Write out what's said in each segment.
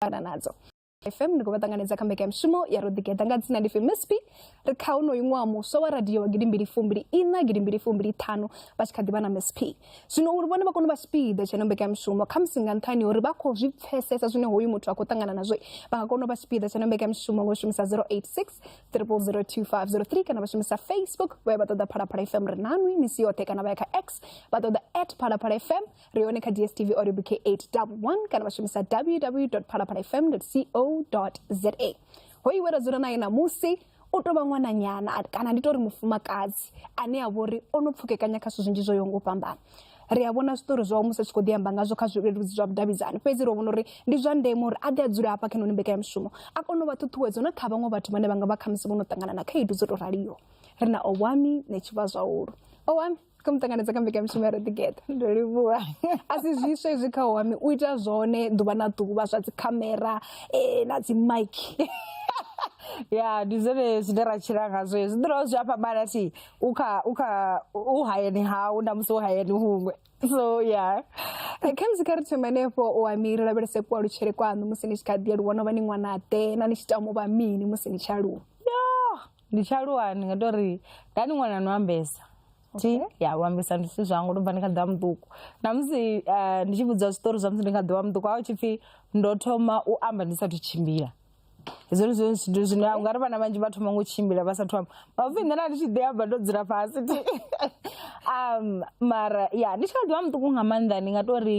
ṱangana nadzo fm ndi khou vha ṱanganedza kha mbekanyamushumo ya ro ḓigeḓa nga dzina ndi fmsp ri kha unoyu ṅwaha muswa wa radio wa gidi mbili fumbili ina gidi mbili fumbili ṱhanu vha tshi kha ḓivha na msp zwino uri vhone vha kone u vha tshipiḓa tsha ino mbekanyamushumo khamusi nga nṱhani ya uri vha khou zwi pfesesa zwine hoyu muthu a khou ṱangana nazwo vha nga kona u vha tshipiḓa tsha ino mbekanyamushumo ngo shumisa 086 002503 kana vha shumisa facebook vha ya vha ṱoḓa phalaphala fm ri nanwi misi yoṱhe kana vha ya kha x vha ṱoḓa at phalaphala fm ri hone kha dstv or bk 811 kana vha shumisa www phalaphala fm co za ho iwe ra dzula naye ṋamusi u tou vha ṅwananyana kana ndi tou ri mufumakadzi ane a vhori o no pfukekanya kha zwithu zwinzhi zwo yaho nga u fhambana ri a vhona zwiṱori zwawe musi a tshi khou ḓi amba ngazwo kha zwileludzi zwa vhudavhidzani fhedzi ro vhona uri ndi zwa ndeme uri a ḓe a dzule hafha kha noni mbekanyamushumo a kone u vha ṱhuṱhuwedzo na kha vhaṅwe vhathu vhane vha nga vha khamusi vho no ṱangana na khaedu dzo tou raliho ri na owami netshivha zwahulu owami kha muṱangano dza kha mbekanyamushumo ya roḓigeḓa ndo livhuwa a si zwiswa izwi kha wami u ita zwone ḓuvha na ḓuvha zwa dzi khamera eh, na dzi mike ya ndi zwone zwine ra tshila ngazwo zwi ḓo dovha zwi a fhambana thi u kha u kha u hayani hau na musi u hayani huṅwe so ya eh, kha musi kha ri thoma henefho u ami ri lavhelese kualutshele kwaṋu musi ni tshi kha ḓi aluwa no vha ni ṅwana ḓe na ni tshi tama u vha mini musi ni tshi aluwa yo ndi tshi aluwa ndi nga tou ri nda ndi ṅwana no ambesa thi ya u ambesa ndi zwithu zwanga ndo bva ndi kha ḓivha muṱuku na musi eh, ndi tshi vhudza zwiṱori zwa musi ndi kha ḓivha muṱuku a hu tshi pfhi ndo thoma u amba ndi sathu tshimbila hezwo ndi zwone zwithu zwine u nga ri vhana vhanzhi vha thoma ngo tshimbila vha sathu amba mapfi nṋe na ndi tshi ḓi amba ndo dzula fhasi thi um mara ya ndi tshi kha ḓivha muṱuku nga maanḓa ndi nga tou ri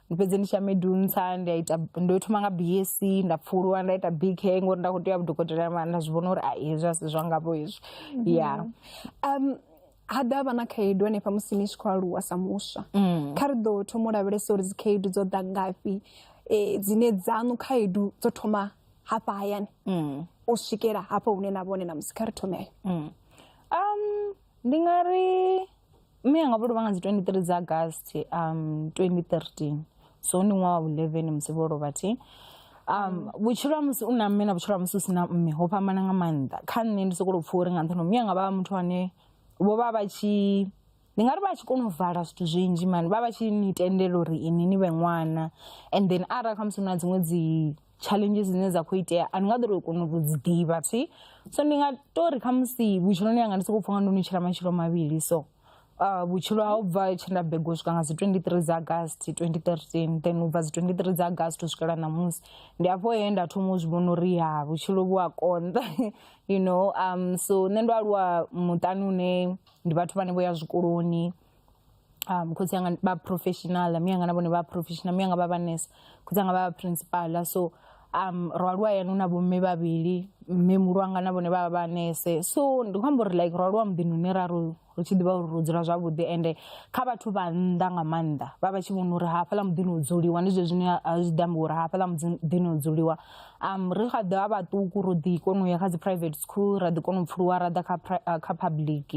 ndi fhedze ndi tshi ya medunsa ndi a ita ndo thoma nga bsc nda pfuluwa nda ita bk ngori nda khou tea vhudokotela mara nda zwi vhona uri a hezwi a si zwangavho hezwi ya um ha ḓa vha na khaedu hanefha musi ni tshi khou aluwa sa muswa kha ri ḓo thoma u lavhelesa uri dzikhaedu dzo ḓa ngafhi eh, dzine dzaṋu khaedu dzo thoma hafha hayani u swikela hafha hune na vhone na musi kha ri thomele um ndi nga ri mme anga vho lovha nga dzi 23 dza agast um 2013 so ndi ṅwaha wa 11 musi vho lovha thi um vhutshilo ha musi u na mme na vhutshilo ha musi u si na mme ho fhambana nga maanḓa kha nṋe ndi sokou pfha uri nga nṱhani mme anga vha vha muthu ane vho vha vha tshi ndi nga ri vha tshi kona u vala zwithu zwinzhi mani vha vha tshi ni tendela uri ini ni vhe ṅwana and then arali khamusi hu na dziṅwe dzi challenges dzine dza khou itea a ni nga ḓori u kona u dzi ḓivha thi so ndi nga to ri khamusi vhutshiloni yanga ndi sokou pfha nga ndo ni tshila matshilo mavhili so uh, vhutshilo ha u bva tshe nda begwa u swika nga dzi 23 dza agast 2013 then u bva dzi 23 dza agast u swikela ṋamusi ndi afho he nda thoma u zwi vhona uri ha vhutshilo vhu a konḓa you know um so nṋe ndo aluwa muṱani une ndi vhathu vhane vho ya zwikoloni um khotsi anga ba professional mi anga na vhone vha professional mi anga vha vha nurse khotsi anga vha vha principal so um ro aluwa yani na bomme vhavhili mme mulu anga na vhone vha vha nese so ndi khou amba uri like ro aluwa muḓini une ra ro ri tshi ḓivha uri ro dzula zwavhuḓi ende kha vhathu vha nnḓa nga maanḓa vha vha tshi vhona uri hafhaḽa muḓini u dzuliwa ndi zwezwi zwine a zwi ḓi amba uri hafhaḽa muḓini u dzuliwa um ri kha ḓivha vhaṱuku ro ḓi kona u ya kha dzi private school ra ḓi kona u pfuluwa ra ḓa kha pri- uh, kha public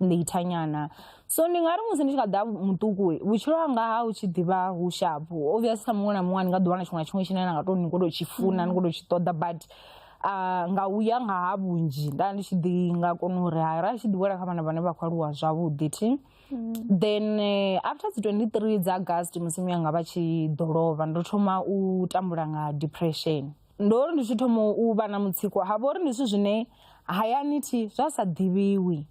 later nyana so ndi nga ri musi ndi tshi kha ḓa muṱuku vhutshilo hanga ha u tshi ḓivha hu shapu obvious kha muṅwe na muṅwe ndi nga ḓiwana tshiṅwe na tshiṅwe tshine na nga to ni khou tou tshi funa ni khou tou tshi ṱoḓa but ah, nga u ya nga ha vhunzhi nda ndi tshi ḓi nga kona uri hai ra tshi ḓi wela kha vhana vhane vha khou aluwa zwavhuḓi thi then eh, after dzi 23 dza august mudzimu yanga vha tshi ḓo lovha ndo thoma u tambula nga depression ndo ri ndi tshi thoma u vha na mutsiko ha vhori ndi zwithu zwine hayani thi zwa sa ḓivhiwi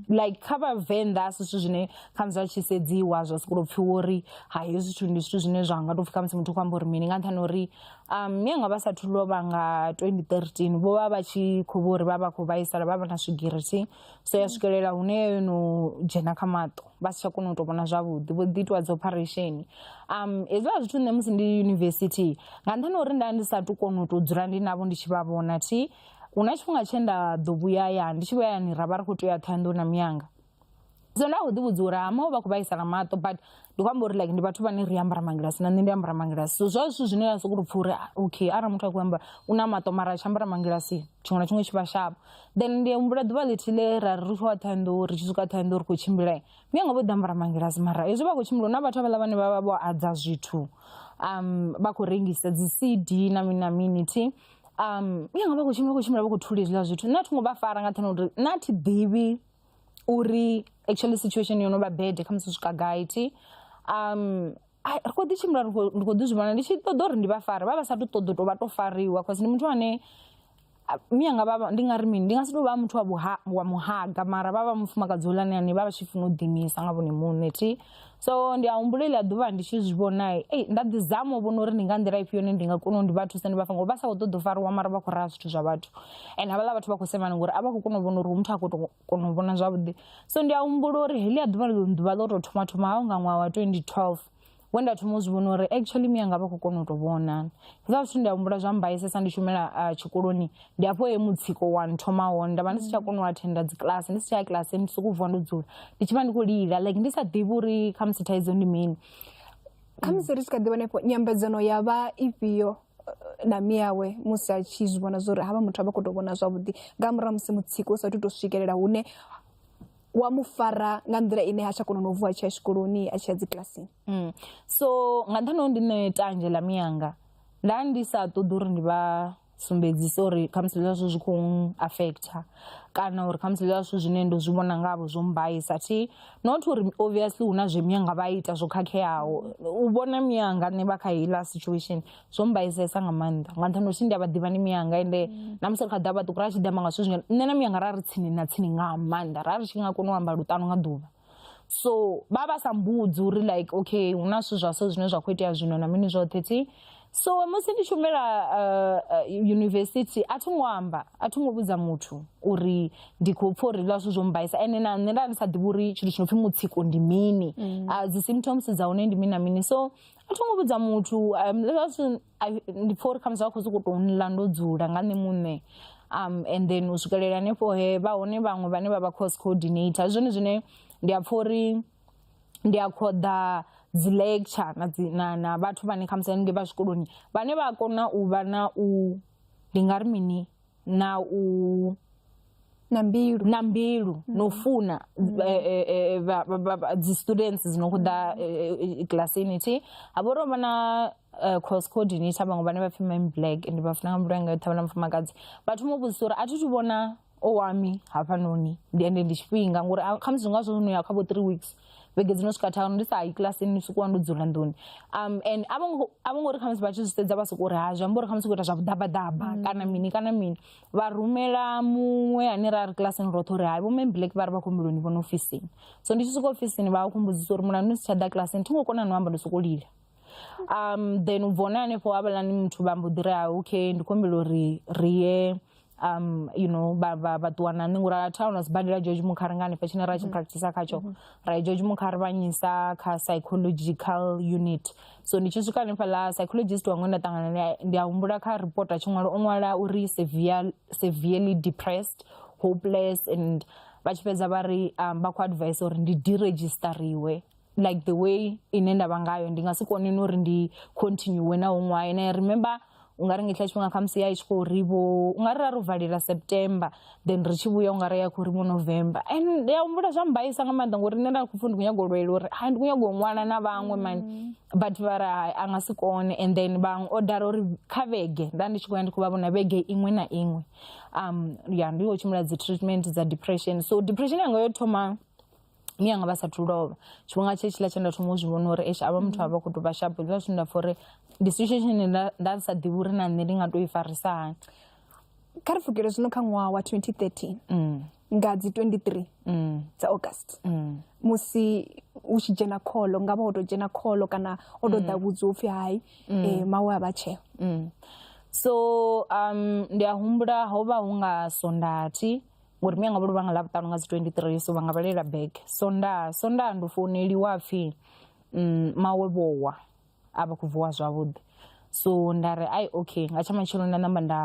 like kha vhavenḓa a si zwithu zwine khamusi vha tshi sedziwa zwa sokou tou pfiwa uri ha hezwi zwithu ndi zwithu zwine zwa nga tou pfi khamusi muthu khou amba uri mini nga nṱhani ha uri um mianga vha sathu lovha nga 2013 vho vha vha tshi khou vha uri vha vha khou vhaisala vha vha na swigiri thi so ya swikelela hune yo no dzhena kha maṱo vha si tsha kona u to vhona zwavhuḓi vho ḓi itiwa dzi operation um hezwiḽa zwithu nṋe musi ndi yunivesithi nga nṱhani uri nda ndi sa tu kona u to dzula ndi navho ndi tshi vha vhona thi hu na tshifhinga tshe nda ḓo vhuya ya ndi tshi vhuya yani ra vha ri khou tea thohoyandou na miyanga so nda kho ḓi vhudza uri hama vha khou vhaisala maṱo but ndi khou amba uri like ndi vhathu vhane ri ambara mangilasi na nṋe ndi ambara mangilasi so zwa zwithu zwine ya sokou tou pfha uri ah, okay arali muthu a khou amba u na maṱo mara a tshi ambara mangilasi tshiṅwe na tshiṅwe tshi vha shapo then ndi humbula ḓuvha ḽithihi ḽe ra ri ri tshi wa ṱhohoyanḓou ri tshi swika ṱhohoyanḓou ri khou tshimbila mi anga vho ḓi ambara mangilasi mara hezwi vha khou tshimbila hu na vhathu havhaḽa vhane vha vha vho adza zwithu um vha khou rengisa dzi cd na mini na mini thi um mi anga vha khou tshimbila vha khou tshimbila vha khou thula hezwiḽa zwithu nṋe a thi ngo vha fara nga nṱhani ha uri nṋe a thi ḓivhi uri actually situation yo no vha bad kha musi swika gaiti um ai ri kho ḓi tshimbila ri khou- ndi khou ḓi zwi vhona ndi tshi ṱoḓa uri ndi vha fare vha vha sa tu ṱoḓa u tou vha to fariwa cause ndi muthu ane a- mi anga vha ndi nga ri mini ndi nga si tou vha muthu wa vhuha- wa muhaga mara vha vha mufumakadzi hulane ane vha vha tshi funa u ḓimisa nga vhone muṋe thi so ndi a humbula iḽa ḓuvha ndi tshi zwi vhona ei nda ḓi zama u vhona uri ndi nga nḓila ifhio ine ndi nga kona u ndi vha thusa ndi vha fa ngori vha sa khou ṱoḓa u fariwa mara vha khou raha zwithu zwa vhathu and havhaḽa vhathu vha khou semana ngori a vha khou kona u vhona uri hu muthu a khou tou kona u vhona zwavhuḓi so ndi a humbula uri heḽia ḓuvha ḽo ḓuvha ḽo tou thoma thoma haho nga ṅwaha wa 2012 we nda thoma u zwi vhona uri actually miyanga vha khou kona u tou vhona hezwa zwithu ndi a humbula zwa mbaisesa ndi shumela tshikoloni ndi afho he mutsiko wa nthoma hone nda vha ndi si tsha kona u athenda dzikilasi ndi si tsha ya kilasi ndi sokou vuwa ndo dzula ndi tshi vha ndi khou lila like ndi sa ḓivhi uri khamusi thaidzo ndi mini khamusi ri tshi kha ḓi vhona ifho nyambedzano ya vha ifhio eh, na miyawe musi a tshi zwi vhona zwori havha muthu a vha khou tou vhona zwavhuḓi nga murahu ha musi mutsiko u sa thu tou swikelela hune wa mu fara nga nḓila ine ha tsha kona no vuwa a tshi ya tshikoloni a tshi ya dzikilasini Mm. so nga nṱhani ho ndi ṋe tanzhe ḽa miyanga nda ndi sa ṱoḓi uri ndi vha sumbedzisa uri khamusi zwiḽiwa zwashu zwi khou affecta kana uri khamusi zwiḽiwa zwashu zwine ndo zwi vhona ngavho zwo mbaisa thi not uri obviously hu na zwe miyanga vha ita zwo khakheaho u vhona miyanga nṋe vha kha heiḽa situation zwo mbaisesa nga maanḓa nga nṱhani uri ndi a vha ḓivha ni miyanga ende na musi ri kha ḓa vhaṱuku ra tshi ḓi amba nga zwithu zwine nṋe na miyanga ra ri tsini na tsini nga maanḓa ra ri tshi nga kona u amba luṱanu nga ḓuvha so vha vha sa mbudzi uri like okay hu na zwithu zwa so zwine zwa khou itea zwino na mini zwoṱhe thi so musi ndi tshumela uh, uh, university a thi ngo amba a thi ngo vhudza muthu uri ndi khou pfha uri zwithu zwo mbaisa ene na nṋe nda ndi sa ḓivhi uri tshithu tshi no pfhi mutsiko ndi mini mm. uh, dzi symptoms dza hone ndi mini na mini so a thi ngo vhudza muthu um, ndi pfha uri khamusi vha khou sokou tou nla ndo dzula nga nṋe muṋe um and then u swikelela hanefho he vha hone vhaṅwe vhane vha vha course coordinator zwone zwine ndi a pfha uri ndi a khoḓa dzi lecture na dzi na na vhathu vhane khamusi haningei vha zwikoloni vhane vha kona u vha na u ndi nga ri mini na u na mbilu na mbilu na u funa eh, eh, eh, vha- vha- vha- vha- dzi students dzi no khou ḓa eh, eh, kilasini thi ha vha uri ho vha na eh, cross coordinator vhaṅwe vhane vha pfi mam black and vha funa nga mulayo nga yoṱhe vha na mufumakadzi vha thoma u vhudzisa uri a thi thu vhona owami hafhanoni ndi ende ndi tshifhinga ngori a- khamusi zwi nga zwo no ya kha vho three weeks vhege dzino swika thanu ndi sa yi kilasini ni swikuwa ndo dzula nḓuni um and a vho ngo uri khamusi vha tshi zwi sedza vha soko uri ha zwi amba uri khamusi khou ita zwa vhuḓabaḓaba mm. kana mini kana mini vha rumela muṅwe ane ra ri kilasini roṱhe uri hai vho mme black vha ri vha khou mbiloni vhona ofisini so ndi tshi swika ofisini vha a khumbudzisa uri mulandu ni si tsha ḓa kilasini thi ngo kona no amba ndo soko lila um then u bvona hanefho havhalani muthu vha mbo ḓi ri ha okay ndi khombela uri ri ye um you know vha vha vha ṱuwa na nṋe ngori a thi aona sibadela george mukhari nga hanefha tshine ra tshi mm-hmm. practicer khatsho mm-hmm. ra george mukhari vha nyisa kha psychological unit so ndi tshi swika hanefha ḽa psychologist wanga nda ṱangana naye ndi a humbula kha report a tshi ṅwala o ṅwala uri severe severely depressed hopeless and vha tshi fhedza vha ri um, vha khou advise uri ndi deregistariwe like the way ine nda vha ngayo ndi nga si kone no uri ndi continue na huṅwe hayo na remember u nga ri nga tshiḽa tshifhinga khamusi ya i tshi khou ri vho u nga ri ra ri valela september then ri tshi vhuya u nga ri ya khou ri vho november and ndi ya humbula zwa mbaisa nga maanḓa ngori nṋe nda khou pfhi ndi khou nyago lwela uri hai ndi khou nyago u ṅwala na vhaṅwe mani mm. but vha ri hai a nga si kone and then vhaṅwe o dala uri kha vhege nda ndi tshi khou ya ndi khou vha vhona vhege iṅwe na iṅwe um ya ndi khou tshimbila dzi treatment dza depression so depression yanga yo thoma miyanga vha sathu lovha tshifhinga tshe tshiḽa tshe nda thoma u zwi vhona uri esha avha muthu a vha khou tou vha shapo zwa zwine nda pfha uri ndi situation ine nda nda sa ḓivhi uri na nṋe ndi nga to i farisa hani kha ri pfukele zwino kha ṅwaha wa 2013 mm. nga dzi 23 mm. dza august mm. musi u tshi dzhena kholo nga vha o tou dzhena kholo kana o tou ḓa vhudzi upfhi hai um eh, mawe a vha tsheo so um ndi a humbula ho vha hu nga sondathi ngori mi anga vholo vha nga ḽa vhuṱanu nga dzi 23 so vha nga vhalela bag sonda sonda ndo founeliwa pfhi mm, mawe vhowa a vha khou vuwa zwavhuḓi so nda ri ai okay nga tsha matshelo nda namba nda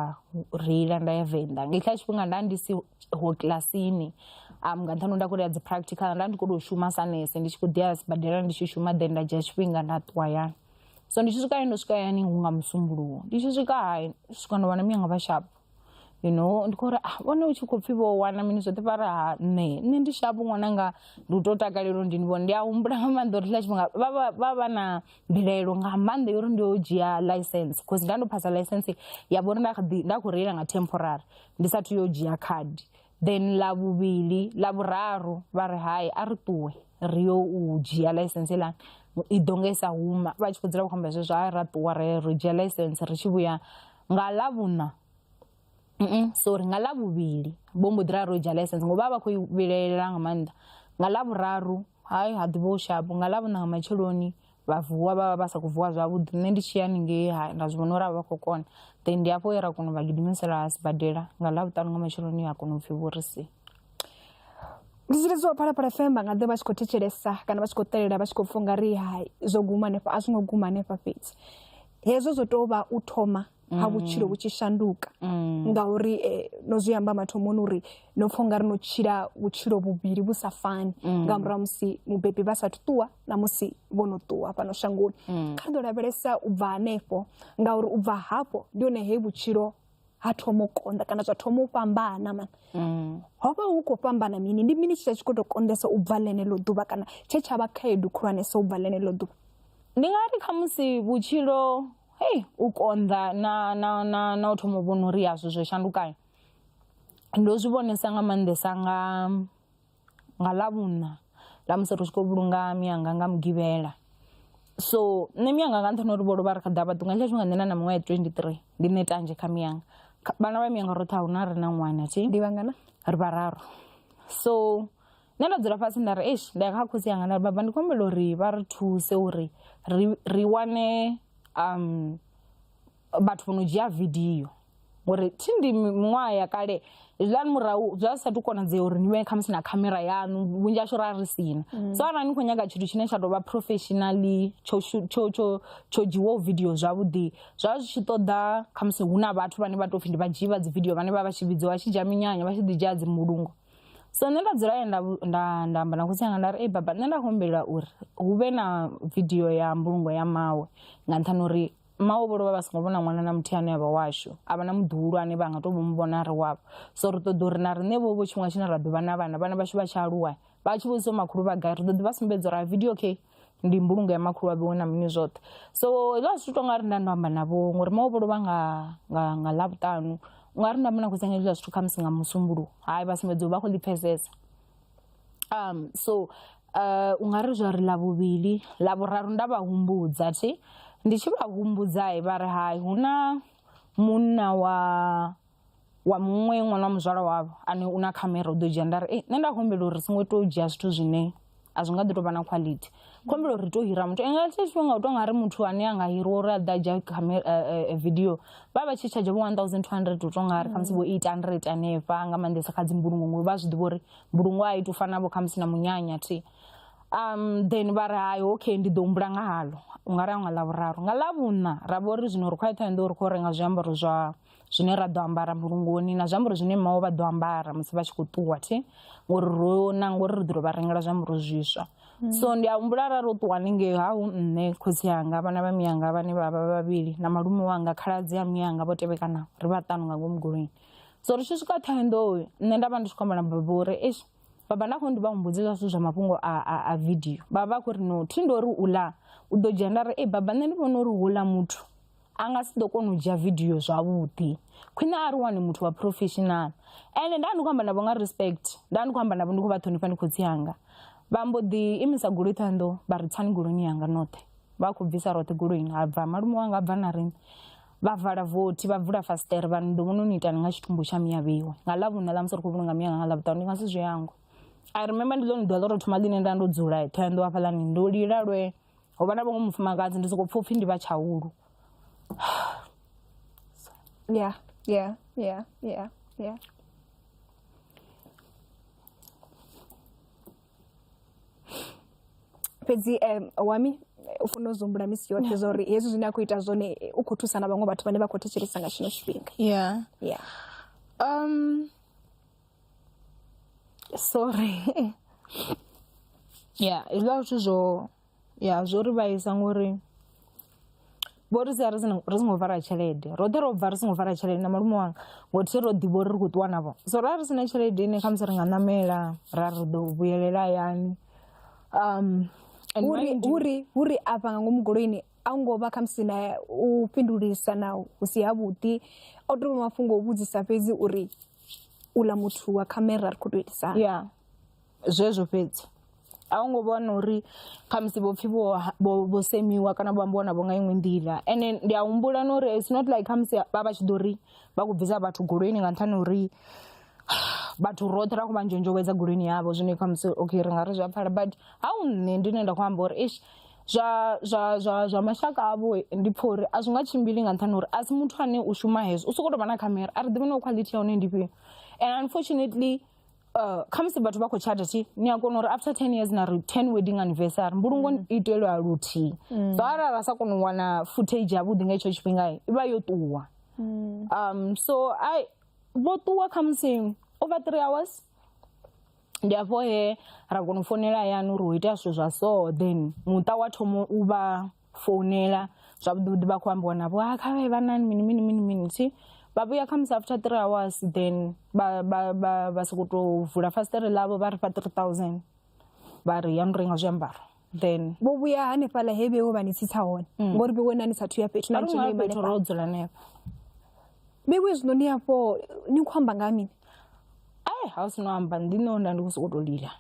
reila nda ya venḓa nga ikhila tshifhinga nda ndi si ho kilasini um nga nṱhani nda khou ya dzi practical nda ndi khou tou shuma sa nese ndi tshi khou ḓi ya sibadela ndi tshi shuma then nda dzhia tshifhinga nda ṱuwa yani so ndi tshi swika hayani ndo swika hayani hu nga musumbuluwo ndi tshi swika hayi swika ndo vhana miyanga vhashapu you know ndi khou uri ah vhone u tshi khou pfhi vho wana mini zwoṱhe vha ri ha nṋe nṋe ndi shapu ṅwananga ndi u to takalela uri ndi ni vhone ndi a humbula nga maanḓa uri tshiḽa tshifhinga vha vha- vha vha na mbilaelo nga maanḓa yo uri ndi yo dzhia license bcause nda ndo phasa license ya vhori nda kha ḓi- nda khou reila nga temporary ndi sathu yo dzhia khadi then ḽa vhuvhili ḽa vhuraru vha ri hai a ri ṱuwe ri yo u dzhia license ilani i ḓo nga i sa huma vha tshi khou dzula vha khou amba zwezwo a ra ṱuwa re ro dzhia license ri tshi vhuya nga ḽavhuṋa mm sorry nga ḽavhuvhili vho mbo ḓi ra ro dzhia license ngo vha vha khou i vhilaelela nga maanḓa nga ḽavhuraru hai ha ḓuvha u shapo nga ḽavhuṋa nga matsheloni vha vuwa vha vha vha sa khou vuwa zwavhuḓi nṋe ndi tshi ya ningei ha nda zwi vhona uri a vha khou kona then ndi hafho ye ra kona u vha gidimisela sibadela nga ḽavhuṱanu nga matsheloni ya kona u pfhi vhorisi ndi tshi lidziwa phalaphala fm vha nga ḓe vha tshi khou thetshelesa kana vha tshi khou ṱalela vha tshi khou pfha ungari hai zwo guma hanefha a zwi ngo guma hanefha fhedzi hezwo zwo tou vha u thoma ha vhutshilo vhu tshi shanduka ngauri eh, no zwi amba mathomoni uri no pfha ungari no tshila vhutshilo vhuvhili vhu sa fani nga murahu ha musi mubebi vha sathu ṱuwa na musi vho no ṱuwa fhano shangoni kha ri ḓo lavhelesa u bva hanefho ngauri u bva hafho ndi hone he vhutshilo ha thoma u konḓa kana zwa thoma u fhambana mani mm. ho vha hu khou fhambana mini ndi mini tshithu tshi khou tou konḓesa u bva ḽeneḽo ḓuvha kana tshe tsha vha khaedu khulwanesa u bva ḽeneḽo ḓuvha ndi nga ri khamusi vhutshilo hei u konḓa na na na na u thoma u vhona uri yazwo zwo shandukayo ndo zwi vhonesa nga maanḓesa nga nga ḽavhuṋa ḽa musi ri tshi khou vhulunga mianga nga mugivhela so nṋe mianga nga nṱhani ha uri vho lovha ri kha ḓi amba ṱungu nga hetsho tshifhinga nṋe na miṅwaha ya twenty three ndi nṋe tanzhe kha mianga vhana vha mianga roṱhe a huna a re na ṅwana na tshee ndi vhangana ri vhararu so nṋe nda dzula fhasi nda ri eish nda ya kha khotsi anga nda ri baba ndi khou humbela uri vha ri thuse uri ri ri wane vhathu vho no dzhia vidio ngori thi ndi miṅwaha ya kale zwiḽani murahu zwa sa tu konadzea uri ni vhe khamusi na khamera yanu vhunzhi ashu ra ri sina mm. so arali ni khou nyaga tshithu tshine tsha tovha professionally tsho tsho tsho tsho dzhiwaho video zwavhuḓi zwa zwi tshi ṱoḓa khamusi hu na vhathu vhane vha tou pfhi ndi vha dzhii vha dzi video vhane vha vha tshi vhidziwa vha tshi dzhia minyanya vha tshi ḓi dzhia dzi mbulungo so nṋe nda dzula ye nda nda amba na khotsi anga nda ri ei baba nṋe nda khou humbela uri hu vhe na video ya mbulungo ya mawe nga nṱhani uri mmawe vho lovha vha songo vhona ṅwana na muthihi ane avha washu a vha na muḓihulwane vha nga to vho mu vhona ri wavho so ri ṱoḓa uri na riṋe vho vho tshiṅwe tshine ra ḓuvha na vhana vhana vhashu vha tshi aluwa vha tshi vhudziso makhulu vha gai ri ḓo ḓi vha sumbedza uri a video okay ndi mbulungo ya makhulu wa vhiwe na mini zwoṱhe so zwa zwithu tonga ri nda ndo amba na vho ngori mawe vho lovha nga nga nga ḽavhuṱanu unga ri nda mona khou sengedzwa zwithu khamusi nga musumbuluwo hai vha sumbedza vha khou ḓi pfesesa so u nga ri zwa ri ḽa vhuvhili ḽa vhuraru nda vha humbudza thi ndi tshi vha humbudza vha ri hai hu na munna wa wa muṅwe ṅwana wa muzwala wavho ane u na khamera u ḓo dzhia nda ri nṋe nda humbela uri songo to dzhia zwithu zwine a zwi nga ḓo tovha na quality khombela uri to hira muthu nga tshe tshifhinga u to nga ri muthu ane a nga hiriwa uri a ḓa dzhia camera video vha vha tshi tsha dzhavho 1200 u to nga ri kha musi vho 800 hanefha nga maanḓesa kha dzi mbulungo ngori vha zwi ḓivha uri mbulungo a i to fana vho khamusi na munyanya thi um then vha ri hayi okay ndi ḓo humbula nga halo u nga ri a nga ḽavhuraru nga ḽavhuṋa ra vha uri zwino ri khou ya ṱhohoyanḓou ri khou renga zwiambaro zwa zwine ra ḓo ambara mbulungoni na zwiambaro zwine mmawe vha ḓo ambara musi vha tshi khou ṱuwa thi ngori ro na ngori ri ḓo ro vha rengela zwiambaro zwiswa so ndi a humbula arali ro ṱuwa haningei ha hu nṋe khotsi anga vhana vha miyanga vhane vha vha vhavhili na malume wanga khaladzi a miyanga vho tevhekanaho ri vhaṱanu nga ngomu goloini so ri tshi swika thohoyandou nṋe nda vha ndi tshi khou amba na baba uri eish baba nda khou ndi vha humbudze zwa zwithu zwa mafhungo a, a, a vidio vha vha khou ri no thi ndo ri u ḽa u ḓo dzhia nda ri ei baba nṋe ndi vhona uri houḽa muthu a nga si ḓo kona u dzhia vidio zwavhuḓi khwine a ri wane muthu wa professional ende nda ndi khou amba navho nga respect nda ndi khou amba navho ndi khou vha ṱhonifha ndi khotsi hanga vha mbo ḓi imisa goloi thohoyandou vha ri tsani goloini yanga noṱhe vha khou bvisa roṱhe goloini ha bva malume wanga a bva na riṋe vha vala vothi vha vula fasiṱere vha ndo vhona ni itani nga tshitumbu tsha miya vheiwe nga ḽavhuna ḽa musi ri khou vhulunga miya nga ḽavhuṱanu ndi nga si zwi hangwe i remember ndi ḽone ḓuvha ḽo tou thoma ḽine nda ndo dzula ṱhoyando hafhaḽani ndo lila lwe ho vha na vhaṅwe mufumakadzi ndi sokou pfha upfhi ndi vha tshaulu ya ya ya ya ya fhedzi um wami u fanela u zwi humbula misi yoṱhe zwa uri hezwi zwine a khou ita zwone u khou thusa na vhaṅwe vhathu vhane vha khou thetshelesa nga tshino tshifhinga yeah yeah um sorry yeah hezwiḽa zwithu zwo ya zwo ri vhaisa ngori vho ri sia ri songo vhala tshelede roṱhe ro bva ri songo vhala tshelede na malume wanga ngo thi ro ḓivha uri ri khou ṱuwa navho so ra ri sina tshelede ine khamusi ri nga ṋamela ra ri ḓo vhuyelela hayani um uri uri afha nga ngomu goloini a ngo vha khamusi na u fhindulisa na hu si ha vhuḓi o tou mafhungo o vhudzisa fhedzi uri u ḽa muthu wa khamera ri kho to itisa ya Zwezwo fhedzi a hu ngo vhona uri khamusi vho pfhi vho vho vho semiwa kana vho ambiwa navho nga iṅwe nḓila ende ndi a humbula na uri it's not like khamusi vha vha tshi ḓo ri vha khou bvisa vhathu goloini nga nṱhani ha uri vhathu roṱhe ra khou vha nzhonzhowedza goloini yavho zwine khamusi okay ri nga ri zwi a pfhala but ha u nṋe ndi ne nda khou amba uri eish zwa zwa zwa zwa mashaka avho ndi pfha uri a zwi nga tshimbili nga nṱhani ha uri a si muthu ane u shuma hezwo u sokou tou vha na khamera a ri ḓivhi na quality ya hone ndi ifhio and unfortunately Uh, khamusi vhathu vha khou tshata thi ni a kona uri after ten years na ri ten wedding anniversary mbulungo mm. itelwa luthihi mm. so arali ra sa kona u wana footage yavhuḓi nga itsho tshifhinga i vha yo ṱuwa mm. um so i vho ṱuwa khamusi over three hours ndi afho he ra kona u founela hayani uri ho itea zwithu zwa so then muṱa wa thomo u vha founela zwavhuḓi vhuḓi vha khou ambiwa navho ha kha vhe vha na mini mini mini mini thi vha vhuya kha musi after three hours then vha vha vha vha soko to vula fasiṱere ḽavho vha ri fha three thousand vha ri ya ni renga zwiambaro then vho vhuya hanefhaḽa he vhewe vha ni tsitsa hone ngori vhewe na ni sathu ya fhethu na a ri nga fhethu ro dzula hanefha vhewe zwino ni afho ni khou amba nga ha mini ai ha u si no amba ndi nṋe nda ndi khou sokou tou lila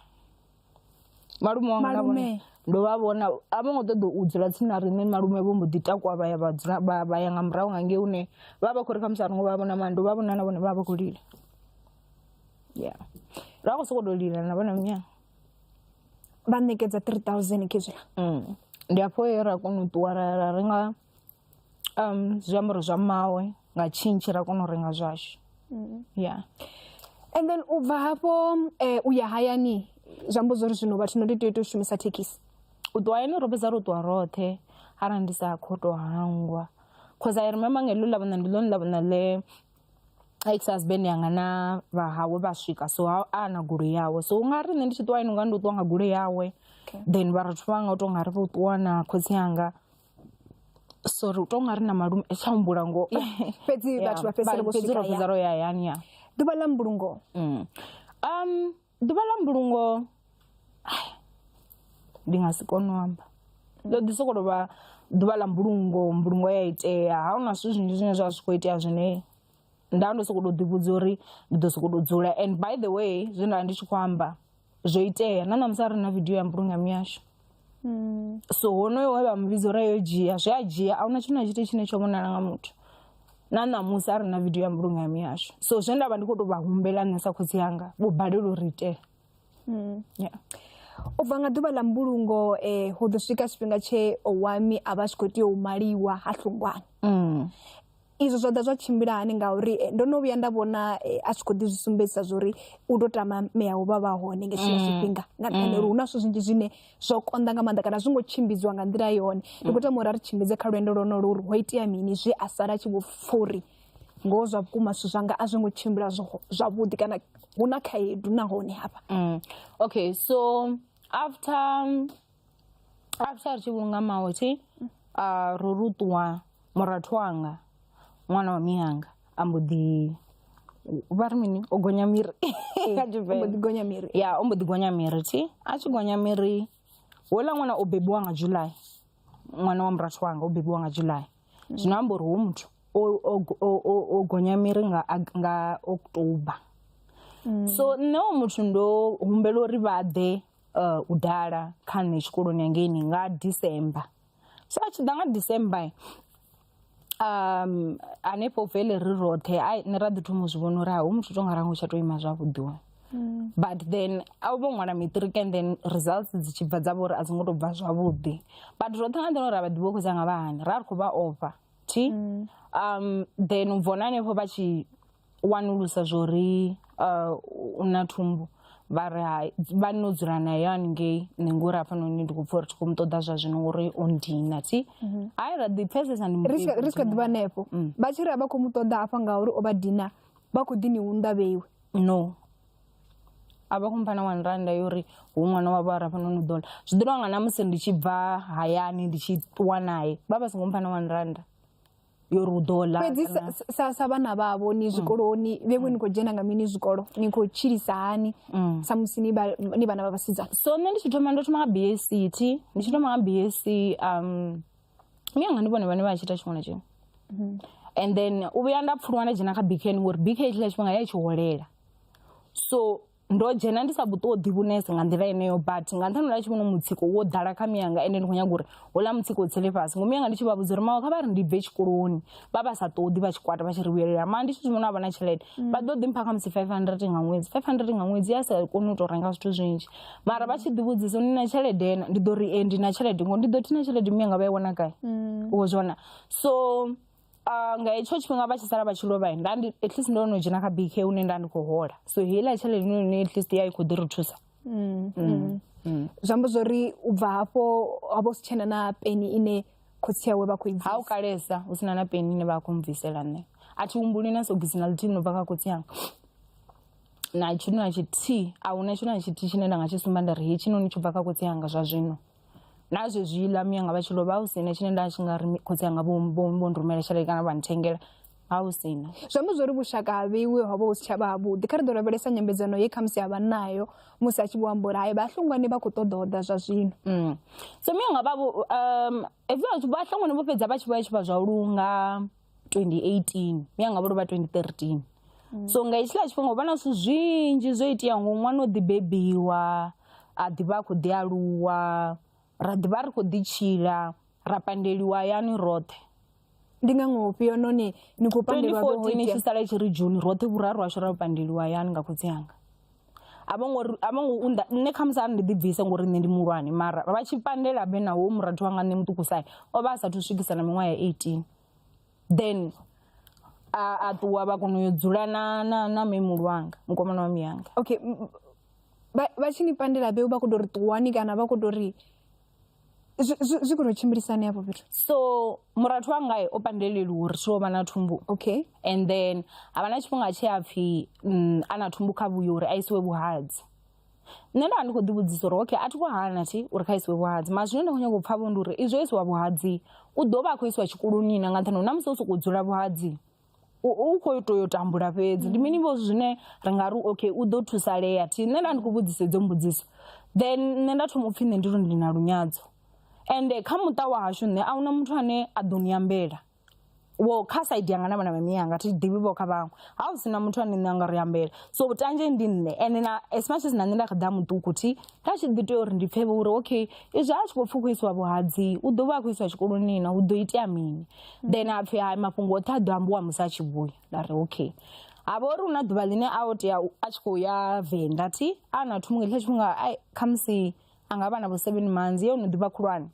malume wanga na vhone ndo vha vhona a vho ngo ṱoḓa u dzula tsini na riṋe malume vho mbo ḓi takuwa vha ya vha dzula vha ya nga murahu nga ngei hune vha vha khou ri khamusi a ringo vha vhona mara ndo vha vhona na vhone vha vha khou lila ya ra khou sokou tou lila na vhona munyanga vha ṋekedza three thousand khezwiḽa mm. ndi afho ye ra kona u ṱuwa ra renga zwiambaro zwa mmawe nga tshintshi ra kona u renga zwashu ya and then u bva hafho u ya hayani zwi amba zwori zwino vhathu no ndi tea u tou shumisa thekhisi u ṱuwa hayani ro fhedza ro ṱuwa roṱhe arali ndi sa kho to hangwa cause i remember nga heḽo ḽa vhona ndi ḽone ḽa vhona ḽe ex husband yanga na vha hawe vha swika so ha a na goloi yawe so unga ri nṋe ndi tshi ṱuwa hayani unga ndi u ṱuwa nga goloi yawe then vha rathu vhanga u to nga ri vho ṱuwa na khotsi anga sorry u to nga ri na malume a tsha humbula ngoho fhedzi vhathu vha fhedzisela vho swika ya ro ya hayani ya ḓuvha ḽa mbulungo mm. um ḓuvha ḽa mbulungo ndi nga si kone u amba ndo ḓi soko tovha ḓuvha ḽa mbulungo mbulungo ya itea ha huna zwithu zwinzhi zwine zwa zwi kho itea zwine nda ndo soko to ḓi vhudza uri ndi ḓo soko to dzula and by the way zwe nda ndi tshi kho amba zwo itea na ṋamusi a ri na vidio ya mbulungano yashu hmm. so honoyo we vha mu vhidza uri yo dzhia zwi a dzhia a huna tshithu na tshithu tshine tsho vhonala nga muthu na ṋamusi a ri na vidio ya mbulungano yashu so zwe nda vha ndi khou tou vha humbela nṋe sa khotsi yanga vho balelwa uri itela hmm. yeah. u bva nga ḓuvha ḽa mbulungo um hu ḓo swika tshifhinga tshe owami a vha a tshi khou tea u maliwa ha hlungwana mm. Izwo zwa ḓa zwa tshimbila hani ngauri ndo no vhuya nda vhona a tshi kho ḓi zwi sumbedzisa zwa uri u to tama mea u vha vha hone nga hetshiḽa tshifhinga nga nṱhani ha uri hu na zwithu zwinzhi zwine zwo konḓa nga maanḓa kana a zwi ngo tshimbidziwa nga nḓila yone ndi khou tama uri a ri tshimbidze kha lwendo lwonolwo uri ho itea mini zwe a sala a tshi vho pfha uri ngoho zwa vhukuma zwithu zwanga a zwi ngo tshimbila zwavhuḓi kana hu na khaedu nahone hafha okay so after after ri tshi vhulunga maotshi uh, ro ri u ṱuwa murathu wanga ṅwana wa miyanga a mbo ḓi vha ri mini o gonya miri kha tshivenḓa gonya miri ya o mbo ḓi gonya miri thi a tshi gonya miri houḽa ṅwana o bebiwa nga july ṅwana wa murathu wanga o bebiwa nga july zwino amba uri hu muthu o gonya miri nga nga october so nṋe o muthu ndo humbela uri vha ḓe uh, u dala kha nṋe tshikoloni hangeini nga december so a tshi ḓa nga december um hanefho vele ri roṱhe ai nṋe ra ḓi thoma u zwi vhona uri ha hu muthu to nga rango tsha to ima zwavhuḓi wa but then a vho ṅwala matric and then results dzi tshi bva dza vhori a dzi ngo to bva zwavhuḓi but roṱhe nga nḓila ra vha ḓivha u khou dza nga vha hani ra ri khou vha ofha thi um then u bvona hanefho vha tshi wanulusa zwo ri uh, u na thumbu vha ri hai vha no dzula nayo haningei nṋe ngori hafhanoni ndi khou pfa uri thi khou mu ṱoḓa zwa zwino ngori o ndina thi hai ra ḓi pfesesa ndi ri swika- ri swika ḓivha hanefho vha tshi ri a vha khou mu ṱoḓa hafha ngauri o vha dina vha khou ḓi ni unḓa vheiwe no a vha kumpha na one randa yo ri hu ṅwana wavho a rafha noni ḓola zwi ḓo tonga na musi ndi tshi bva hayani ndi tshi ṱuwa naye vha vha songo mpha na one randa yo ri u ḓo ḽa fhedzi kana- sa- sa sa vhana vhavho ni zwikoloni vhe vho ni khou dzhena nga mini zwikolo ni khou tshilisa hani samusi ni vha- ni vhana vha vhasidzana so nṋe ndi tshi thoma ndo thoma nga bsc thi ndi tshi thoma nga bsc um mianga ndi vhone vhane vha tshi ita tshiṅwe na tshiṅwe and then u vhuya nda pfuluwa nda dzhena kha bkn ngori bk tshiḽa tshifhinga ya i tshi holela so ndo dzhena ndi sa vhu ṱoḓi vhunese nga nḓila yeneyo but nga nṱhani ḽa tshivhono mutsiko wo ḓala kha miyanga ende ndi khou nyaga uri houḽa mutsiko u tsele fhasi ngomu yanga ndi tshi vha vhudza uri mawe kha vha ri ndi bve tshikoloni vha vha sa ṱoḓi vha tshikwata vha tshi ri vhuyelela maa ndi tshi zwi vhona a vha na tshelede vha ḓo ḓi mpha khamusi five hundred nga ṅwedzi five hundred nga ṅwedzi ya sa koni u tou renga zwithu zwinzhi mara vha tshi ḓi vhudzisa uri ni na tshelede na ndi ḓo ri e ndi na tshelede ngo ndi ḓo thi na tshelede miyanga vha i wana gai wo zwona so Ah, nga hetsho tshifhinga vha tshi sala vha tshi lovha nda ndi at least ndo no dzhena kha bk hune nda ndi khou hola so heiḽa tshelede ine ine at least ya i khou ḓi ri thusa zwi amba zwori u bva hafho ha vha u si tshena na peni ine khotsi awe vha khou i ha u bvisa kalesa hu sina na peni ine vha khou mbvisela nṋe a thi humbuli na sogisi na ḽithihi no bva kha khotsi yanga na tshithu na tshithihi a huna tshithu na tshithihi tshine nda nga tshi sumba nda ri hetshi noni tsho bva kha khotsi yanga zwa zwino na zwezwi ḽa miyanga vha tshi lovha hu sina tshine nda tshi nga ri khotsi anga vho vho rumela tshelede kana vha nthengela ha hu sina zwi amba zwori vhushaka ha vheiwe ho vha hu si tsha vha havhuḓi kha ri ḓo lavhelesa nyambedzano ye khamusi ha vha nayo musi a tshi vho amba uri hai vhahlongwane vha khou ṱoḓa oḓa zwa zwino mm. so miyanga vha um, vhahlongwane vho fhedza vha tshi vho ya tshi vha zwa u lunga 2018 mianga vho lovha 2013 mm. so nga hetshiḽa tshifhinga vha na zwithu zwinzhi zwo iteaho ngo ṅwana o ḓi bebiwa a ḓivha a khou ḓi aluwa ra ḓivha ri khou ḓi tshila ra pandeliwa yani roṱhe ndi nga ngoho fhio noni ni khou pandeliwa vho ita ni tshi sala tshi ri june roṱhe vhuraru ashu ra pandeliwa yani nga khotsi anga a vho ngo ri- a vho ngo unḓa nṋe khamusi a ri ndi ḓibvise ngori nṋe ndi muhulwane mara vha tshi pandela be na wo murathu wanga nṋe muṱukusae o vha a sathu swikisa na miṅwaha ya 18 then a a ṱuwa vha kona u yo dzula na na na memulu wanga mukomana wa miyanga okay m- m- vha vha tshi ni pandela be vha kho to ri ṱuwani kana vha kho to ri Zwi- zwi zwi khou tou tshimbilisa hani hafho fhethu so murathu wangae o pandeleliwa uri tshilo vha na thumbu okay and then havha na tshifhinga tshe a pfhi mm, a na thumbu kha vhuyo uri a isiwe vhuhadzi nṋe nda vha ndi khou ḓi vhudzisa uri okay a thi khou hana thi uri kha isiwe vhuhadzi mara zwine nda khou nyanga u pfha vho ndi uri izwo isiwa vhuhadzi u ḓo vha a khou isiwa tshikoloni na nga nṱhani uri na musi o sokou dzula vhuhadzi u u kho to yo tambula fhedzi ndi mini vho zwine ri nga ri okay u ḓo thusalea thi nṋe nda ndi khou vhudzisa idzo mbudziso then nṋe nda thoma upfhi nṋe ndi ri ndi na lunyadzo ende kha muṱa wa hashu nṋe ahuna muthu ane a ḓo ni ambela wo kha saidi yanga na vhana vha miyanga thi ḓivhi vho kha vhaṅwe ha hu sina muthu ane nṋe anga ri ambela so vhutanzhe ndi nṋe ende na as much as na nṋe nda kha ḓa muṱuku thi nda tshi ḓi tea uri ndi pfhe vho uri okay izwi a tshi khou pfhi u khou isiwa vhuhadzi u ḓo vha a khou isiwa tshikoloni na hu ḓo itea mini then a pfhi hai mafhungo oṱhe a ḓo ambiwa musi a tshi vhuya nda ri okay ha vha uri hu na ḓuvha ḽine a o tea u- a tshi khou ya venḓa thi a na thungo hetsho tshifhinga ai khamusi a nga vha na vho seven months ye ono ḓivha khulwane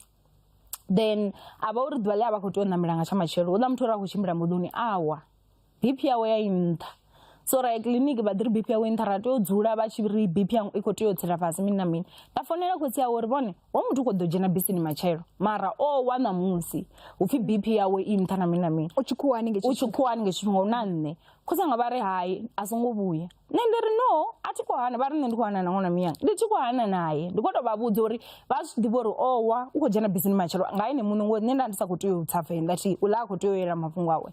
then a vha uri ḓuvha ḽe a vha khou tea u ṋamela nga tsha matshelo houḽa muthu uri a khou tshimbila moḓoni awa BP yawe ya i nṱha so ra ya kiḽiniki vha ḓi ri BP yawe i nṱha ra tea u dzula vha tshi ri BP yangu i khou tea u tsela fhasi mini na mini nda founela khotsi yawe uri vhone ho muthu khou ḓo dzhena bisini matshelo mara o wa ṋamusi hupfi BP yawe i nṱha na mini na mini u tshikhuwani u tshikhuwani nga tshifhinga hu na nṋe khotsi anga vha ri hai a songo vhuya nṋe ndi ri no a thi khou hana vha ri nṋe ndi khou hana na ṅwana miyanga ndi tshi khou hana naye ndi khou tou vha vhudza uri vha zwi ḓivha uri o wa u khou dzhena bisini matshelo nga ene muṋe ngori nṋe nda ndi sa khou tea u tsa venḓa thi u ḽa a khou tea u yela mafhungo awe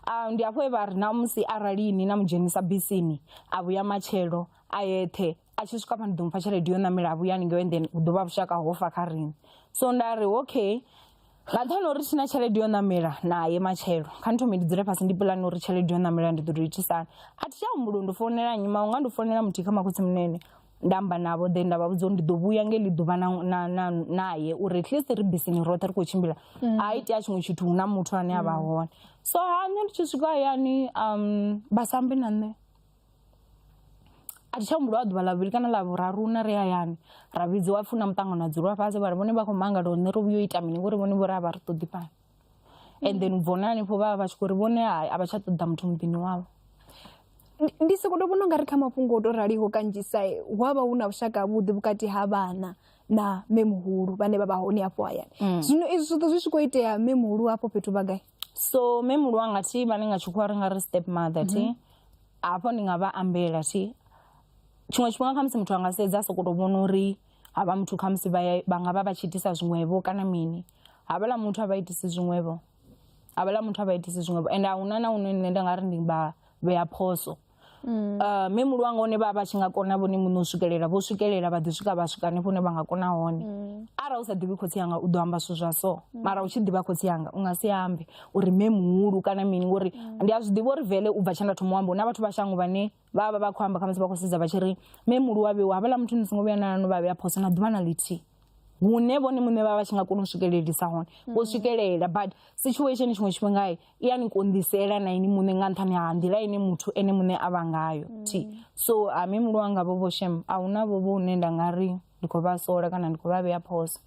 Ah, ndi hafho he vha ri na musi arali ni na mu dzhenisa bisini a vhuya matshelo a yeṱhe a tshi swika pha ni ḓo mupha tshelede yo ṋamela a vhuya haningei and then hu ḓo vha vhushaka ho fa kha riṋe so nda ri okay nga nṱhani ha uri thi na tshelede yo ṋamela naye matshelo kha ni thome ndi dzule fhasi ndi pulane uri tshelede yo ṋamela ndi ḓo tou itisana a thi tsha humbula uri ndi founela nnyi maunga ndi founela muthihi kha makhotsi munene nda amba navho then nda vha vhudza uri ndi ḓo vhuya nge ḽi ḓuvha naye uri at least ri bisini roṱhe ri khou tshimbila mm. a itea tshiṅwe tshithu hu na muthu ane a vha mm. hone so ha nṋe ndi tshi swika hayani um vha sambe na nṋe a thi tsha humbula wa ḓuvha ḽa vhuvhili kana ḽa vhuraru na ri hayani ra vhidziwa pfuna muṱangano a dzulwa fhasi vhari vhone vha khou mangala hone ri vhuyo ita mini ngori vhone vho ri a vha ri ṱoḓi fhano and then ubva hone hanefho vha vha vha tshi khou ri vhone hai a vha tsha ṱoḓa muthu muḓini wavho ndi soko to vhona ungari kha mafhungo o to raliho kanzhisa hu avha hu na vhushaka havhuḓi vhukati ha vhana na mme muhulu vhane vha vha hone afho hayani mm. zwino izwi zwoṱhe zwi tshi khou itea mme muhulu afho fhethu vha gai so mme muhulu wanga thi vhane nga tshikhuwa ri nga ri step mother thi mhm. hafho ndi nga vha ambela thi tshiṅwe tshifhinga khamusi muthu anga sedza a sokoto vhona uri havha muthu khamusi vha nga vha vha tshi itisa zwiṅwevho kana mini havhala muthu a vha itisi zwiṅwevho havhala muthu a vha itisi zwiṅwevho ende a huna na hune nṋe nda nga ri ndi vha vhea phoso um mme muhulu wanga hone vha vha tshi nga kona vhone muṋe u swikelela vho swikelela vha ḓi swika vha swika hanefho hune vha nga kona hone arali u sa ḓivhi khotsi anga u ḓo amba zwithu zwa so mara u tshi ḓivha khotsi anga u nga si ambe uri mme muhulu kana mini ngori ndi a zwi ḓivha uri vele u bva tshe nda thoma u amba hu na vhathu vha shango vhane vha vha vha khou amba khamusi vha khou sedza vha tshi ri me mulu wa vhewa havhala muthu ni songo vhuya na no vha vhea phoso na ḓuvha na ḽithihi hune vhone muṋe vha vha tshi nga kona u swikelelisa hone vho mm. swikelela but situation tshiṅwe tshifhinga i ya ni konḓisela na ini muṋe nga nṱhani ha nḓila ine muthu ene muṋe a vha ngayo mm. ti so a me mulu wanga vho vho shem a huna vho vho hune nda nga ri ndi khou vha sola kana ndi khou vha vhea phoso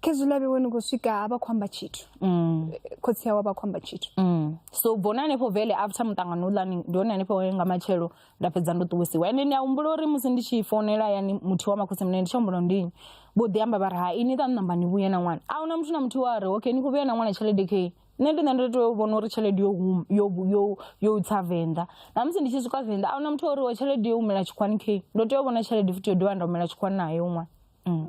khezwi ḽa vhewe ni khou swika a vha khou amba tshithu mm. khotsi awe a vha khou amba tshithu mm. so bvona hanefho vele after muṱangano uḽani ndi hone hanefho nga matshelo nda fhedza ndo ṱuwisiwa ende ndi a humbula uri musi ndi tshi fonela yani muthihi wa makhotsi mune ndi tshi humbula ndini vho ḓi amba vha ri ha ini ṱa ṋamba ni vhuye na ṅwana a huna muthu na muthihi wa ri okay ni khou vhuya na ṅwana tshelede kei nṋe ndi nṋe ndo tea u vhona uri tshelede yo huma yo yo yo tsa venḓa na musi ndi tshi swika venḓa a huna muthu ori wa tshelede yo humela tshikwani khe ndo tea u vhona tshelede futhi yo dovha nda humela tshikwani nayo ṅwana mm.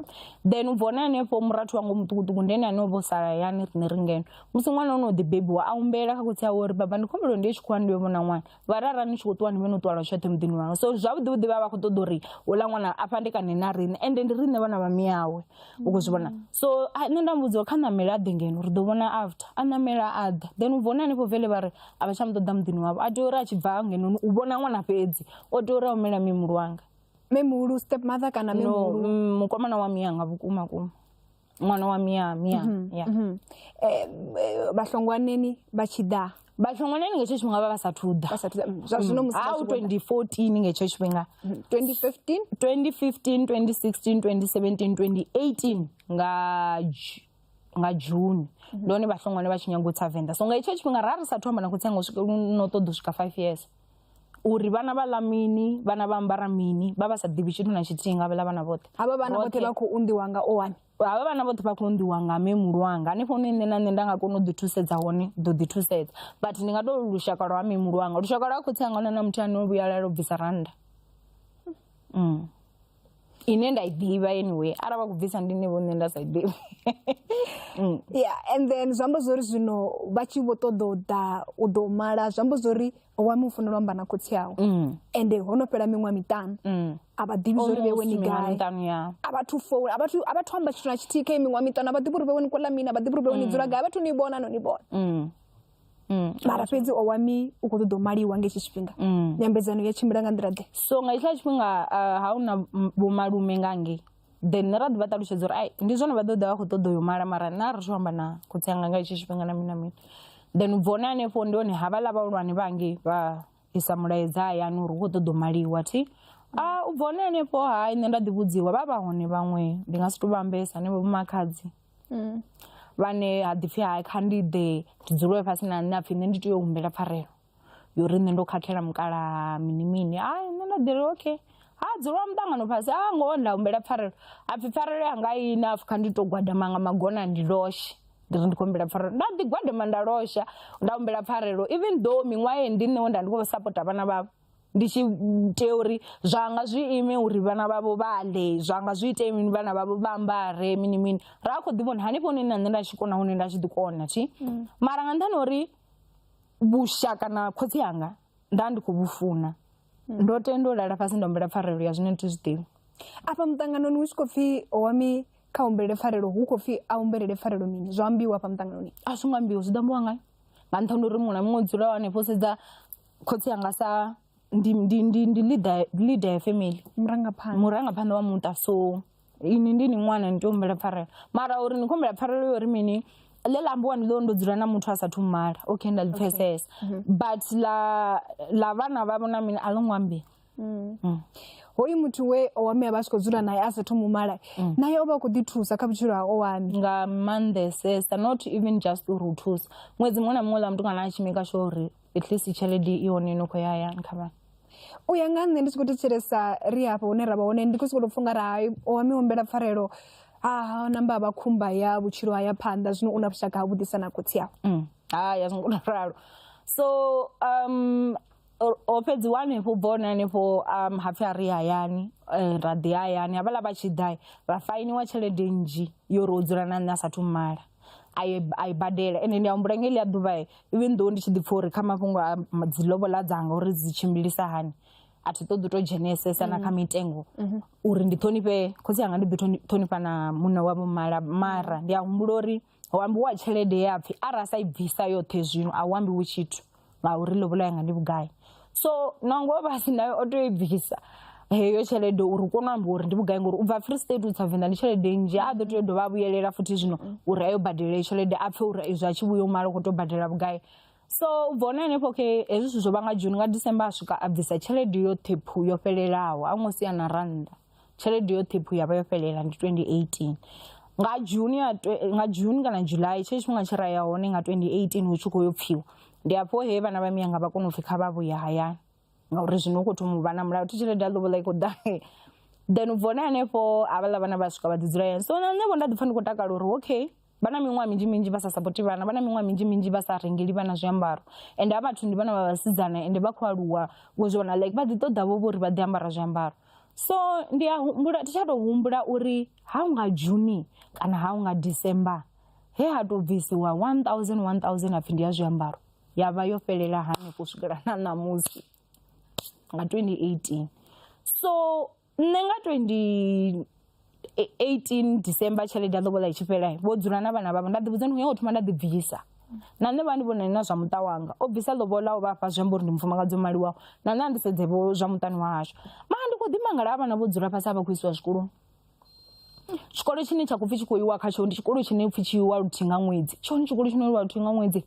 then u bva hone hanefho murathu wanga muṱukuṱuku ndi ene ane o vho sala yani riṋe ri ngeno musi ṅwana o no ḓi bebiwa a humbela kha khotsi awe uri baba ndi khombelo ndi ye tshikwani ndi yo vhona ṅwana vharara ni tshi khou ṱuwa ni vhe no ṱuwalwa tshoṱhe muḓini wanu so zwavhuḓi vhuḓi vha vha khou ṱoḓa uri uḽa ṅwana a fhandekane na riṋe ende ndi riṋe vhana vha miyawe u khou zwi vhona so a- nṋe nda mu vhudza uri kha ṋamele a ḓe ngeno ri ḓo vhona after a ṋamela a ḓa then u vhona hanefho vele vha ri a vha tsha mu ṱoḓa muḓini wavho a tea uri a tshi bva ngenoni u vhona ṅwana fhedzi o tea uri a humela mimulu wanga memuhulu step mother kana no memuhulu mm, mukomana wa miyanga vhukuma kuma ṅwana wa mia mia mhm, ya mhm. Eh, eh, vhahlongwaneni vha tshi ḓa vhahlongwaneni nga hetsho tshifhinga vha vha sathu ḓa zwa zwino mm. musiau 2014 nga hetsho tshifhinga 2015 2015 2016 2017 2018 nga nga june mhm. ndi hone vhahlongwane vha tshi nyago u tsa venḓa so nga hetsho tshifhinga ra ri sathu amba na khotsi anga no ṱoḓa u swika five years uri vhana vha ḽa mini vhana vha ambara mini vha vha sa ḓivhi tshithu na tshithihi nga vhaḽa vhana vhoṱhe havha vhana vhoṱhe vha khou unḓiwa nga o wani havha vhana vhoṱhe vha khou unḓiwa nga mme muhulu wanga hanefho hune nṋe na nṋe nda nga kona u ḓi thusedza hone ḓo ḓi thusedza but ndi nga to lushaka lwa ha mme muhulu wanga lushaka lwa khotsi anga huna na muthu ane o vhuyalala u bvisa rannda ine nda i ḓivha anyway arali vha khou bvisa ndi nṋe vho nṋe nda sa i ḓivhi ya and then zwi amba zwori zwino vha tshi vho ṱoḓa u ḓa u ḓo mala zwi amba zwori wa mufunela amba na khotsi awe mm. ende ho no fhela miṅwaha miṱanu mm. a vha ḓivhi zwo ri vhewe ni gai a vha thu foula a vha thu a vha thu amba tshithu na tshithihi kha miṅwaha miṱanu a vha ḓivhi uri vhewe ni kola mini a vha ḓivhi uri vhewe ni mm. dzula gai a vha thu ni vhona no ni vhona mara fhedzi o wami u khou ṱoḓa u maliwa nga hetshi tshifhinga nyambedzano ya tshimbila nga nḓila ḓe so nga hetshiḽa tshifhinga ha u na vhomalume nga ngei then ra ḓi vha ṱalutshedza uri ai ndi zwone vha ḓo ḓa vha khou ṱoḓa u yo mala mara nṋe a ri thu amba na khotsi anga nga hetsho tshifhinga na mini na mini then u bva hone hanefho ndi hone havhaḽa vhahulwane vha ngei vha isa mulaedza hayani uri hu khou ṱoḓa u maliwa thi a u bva hone hanefho hai nṋe nda ḓi vhudziwa vha vha hone vhaṅwe ndi nga si tou vha ambesa hanevho vhomakhadzi vhane ha ḓi pfhi hai kha ndi ḓe ndi dzule fhasi na nṋe ha pfhi nṋe ndi tea u humbela pfarelo yo ri nṋe ndo khakhela mukalaha mini mini a nṋe nda ḓiri okay ha dzula muṱangano fhasi a ngoho nda humbela pfarelo apfhi pfarelo yanga i enough kha ndi to gwadama nga magona ndi loshe ndi ri ndi khou humbela pfarelo nda ḓi gwadama nda losha nda humbela pfarelo even though miṅwaha ye ndi nṋe we nda ndi khou sapota vhana vhavho ndi tshi tea uri zwanga zwi ime uri vhana vhavho vha ḽe zwanga zwi ite mini vhana vhavho vha ambare mini mini ra kho ḓi vhona hanefho hune na nṋe nda tshi kona hune nda tshi ḓi kona thi mara nga nṱhani uri vhushaka na khotsi anga nda ndi khou vhu funa ndo tenda u lala fhasi nda humbela pfarelo ya zwine ndi zwi ḓivhi afha muṱanganoni hu tshi khou pfhi wami kha humbelele pfarelo hu khou pfhi a humbelele pfarelo mini zwa ambiwa afha muṱanganoni a zwo ngo ambiwa zwi ḓo ambiwa ngayo nga nṱhani uri muṅwe na muṅwe dzula wa hanefho sedza khotsi anga sa ndi ndi ndi ndi leader leader ya family murangaphanḓa murangaphanḓa wa muṱa so ini ndi ni ṅwana ni tea u humbela pfarelo mara uri ni khou humbela pfarelo yori mini ḽe ḽa ambiwa ndi ḽo ndo dzula na muthu a sathu mala okay nda ḽi pfhesesa mhm. but ḽa ḽa vhana vha vhona mini a ḽo ngo ambiwa mm. mm. hoyu muthu we owami a vha a tshi khou dzula naye a sathu mu mala mm. naye o vha a khou ḓi thusa kha vhutshilo ha owami nga maanḓesesa not even just uri u thusa ṅwedzi muṅwe na muṅwe ḽa mutukana a tshimika sho uri at least tshelede i hone no khou ya hayani kha vhana u ya nga nṋe ndi tshi khou thetshelesa ri hafha hune ra vha hone ndi khou sokou tou pfha u nga ri hai o wa mi humbela pfarelo a namba a vha khumba ya vhutshilo ha ya phanḓa zwino u na vhushaka ha vhuḓisa na khotsi awe mm. hai a zwi ngo tou ralo so um ho fhedziwa hanefho bva hone hanefho um ha pfhi a ri hayani eh, ra ḓi hayani havhaḽa vha tshi ḓa ra fainiwa tshelede nnzhi yo ro dzula na nṋe a sathu mala a i a i badela ende ndi a humbula nga heḽia ḓuvha even though ndi tshi ḓi pfha uri kha mafhungo a dzi lobola dzanga uri dzi tshimbilisa hani a thi ṱoḓi u to dzhenesesa na kha mitengo uri ndi ṱhonifhe khotsi anga ndi ḓi ṱhonifha na muṋe wa vho mala mara ndi a humbula uri hu ambiwa tshelede ya pfhi arali a sa i bvisa yoṱhe zwino a hu ambiwa tshithu. ngauri lobola yanga ndi vhugai so nangwe o vha a si nayo o tea u i bvisa heyo tshelede uri u kone u amba uri ndi vhugai ngori u bva free state u tsa venḓa ndi tshelede nnzhi a ḓo tea u dovha a vhuyelela futhi zwino uri a yo badela heyo tshelede a pfhe uri izwi a tshi vhuya u mala u khou tou badela vhugai so u bva hone henefho okay hezwi zwithu zwo vha nga june nga december a swika a bvisa tshelede yoṱhe phu yo fhelelaho a ṅwe sia na rannda tshelede yo ṱhiphu ya vha yo fhelela ndi 2018 nga june ya nga june kana july tshe tshifhinga tshi ra ya hone nga 2018 hu tshi khou yo pfiwa ndi hafho he vhana vha miyanga vha kona u pfhi kha vha vhuya hayani ngauri zwino u khou thoma u vha na mulayo thi tshelede ya lobola i khou ḓa then u bva hone hanefho havhaḽa vhana vha swika vha ḓi dzula hayani so na nṋe vho nda ḓi pfha ndi khou takala uri okay vha na miṅwaha minzhi minzhi vha sa sapoti vhana vha na miṅwaha minzhi minzhi vha sa rengeli vhana zwiambaro ende a vhathu ndi vhana vha vhasidzana ende vha khou aluwa wo zwi vhona like vha ḓi ṱoḓa vho vho ri vha ḓi ambara zwiambaro so ndi a humbula thi tsha tou humbula uri ha u nga juni kana ha u nga december he ha tou bvisiwa 1000 1000 apfhi ndi ya zwiambaro ya vha yo fhelela hanefho u swikela na ṋamusi nga 2018 so nṋe nga 20 18 december tshelede ya ḓokola i tshi fhela vho dzula na vhana vhavho nda ḓivhudza ndi khou nyanga u thoma nda ḓi bvisa na nṋe vha ndi vhonani na zwa muṱa wanga o bvisa ḽobola o vha fha zwi amba uri ndi mufumakadzi o maliwaho na nṋe a ndi sedze vho zwa muṱani wa hashu mara ndi khou ḓimangala ha vhana vho dzula fhasi a vha khou isiwa zwikoloni tshikolo tshine tsha khou pfhi tshi khou iwa khatsho ndi tshikolo tshine pfhi tshi iwa luthihi nga ṅwedzi tshone tshikolo tshine lwa luthihi nga ṅwedzi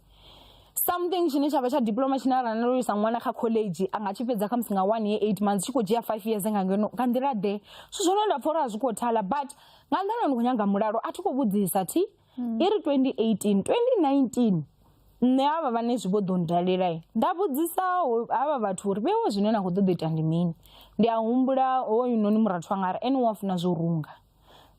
something tshine tshavha tsha diploma tshine arali ndo isa ṅwana kha college a nga tshi fhedza kha musi nga one year eight months tshi khou dzhia five years nga ngeno nga nḓila ḓe zwithu zwone nda pfha uri a zwi khou thala but nga nḓila ndi khou nyanga mulalo a thi khou vhudzisa thi hmm. i ri 2018 2019 nṋe havha vhane zwi vho ḓo ndalela nda vhudzisa havha vhathu uri vhewo zwine na khou ṱoḓa ita ndi mini ndi a humbula hoyunoni murathu wanga ari ene wa funa zwo runga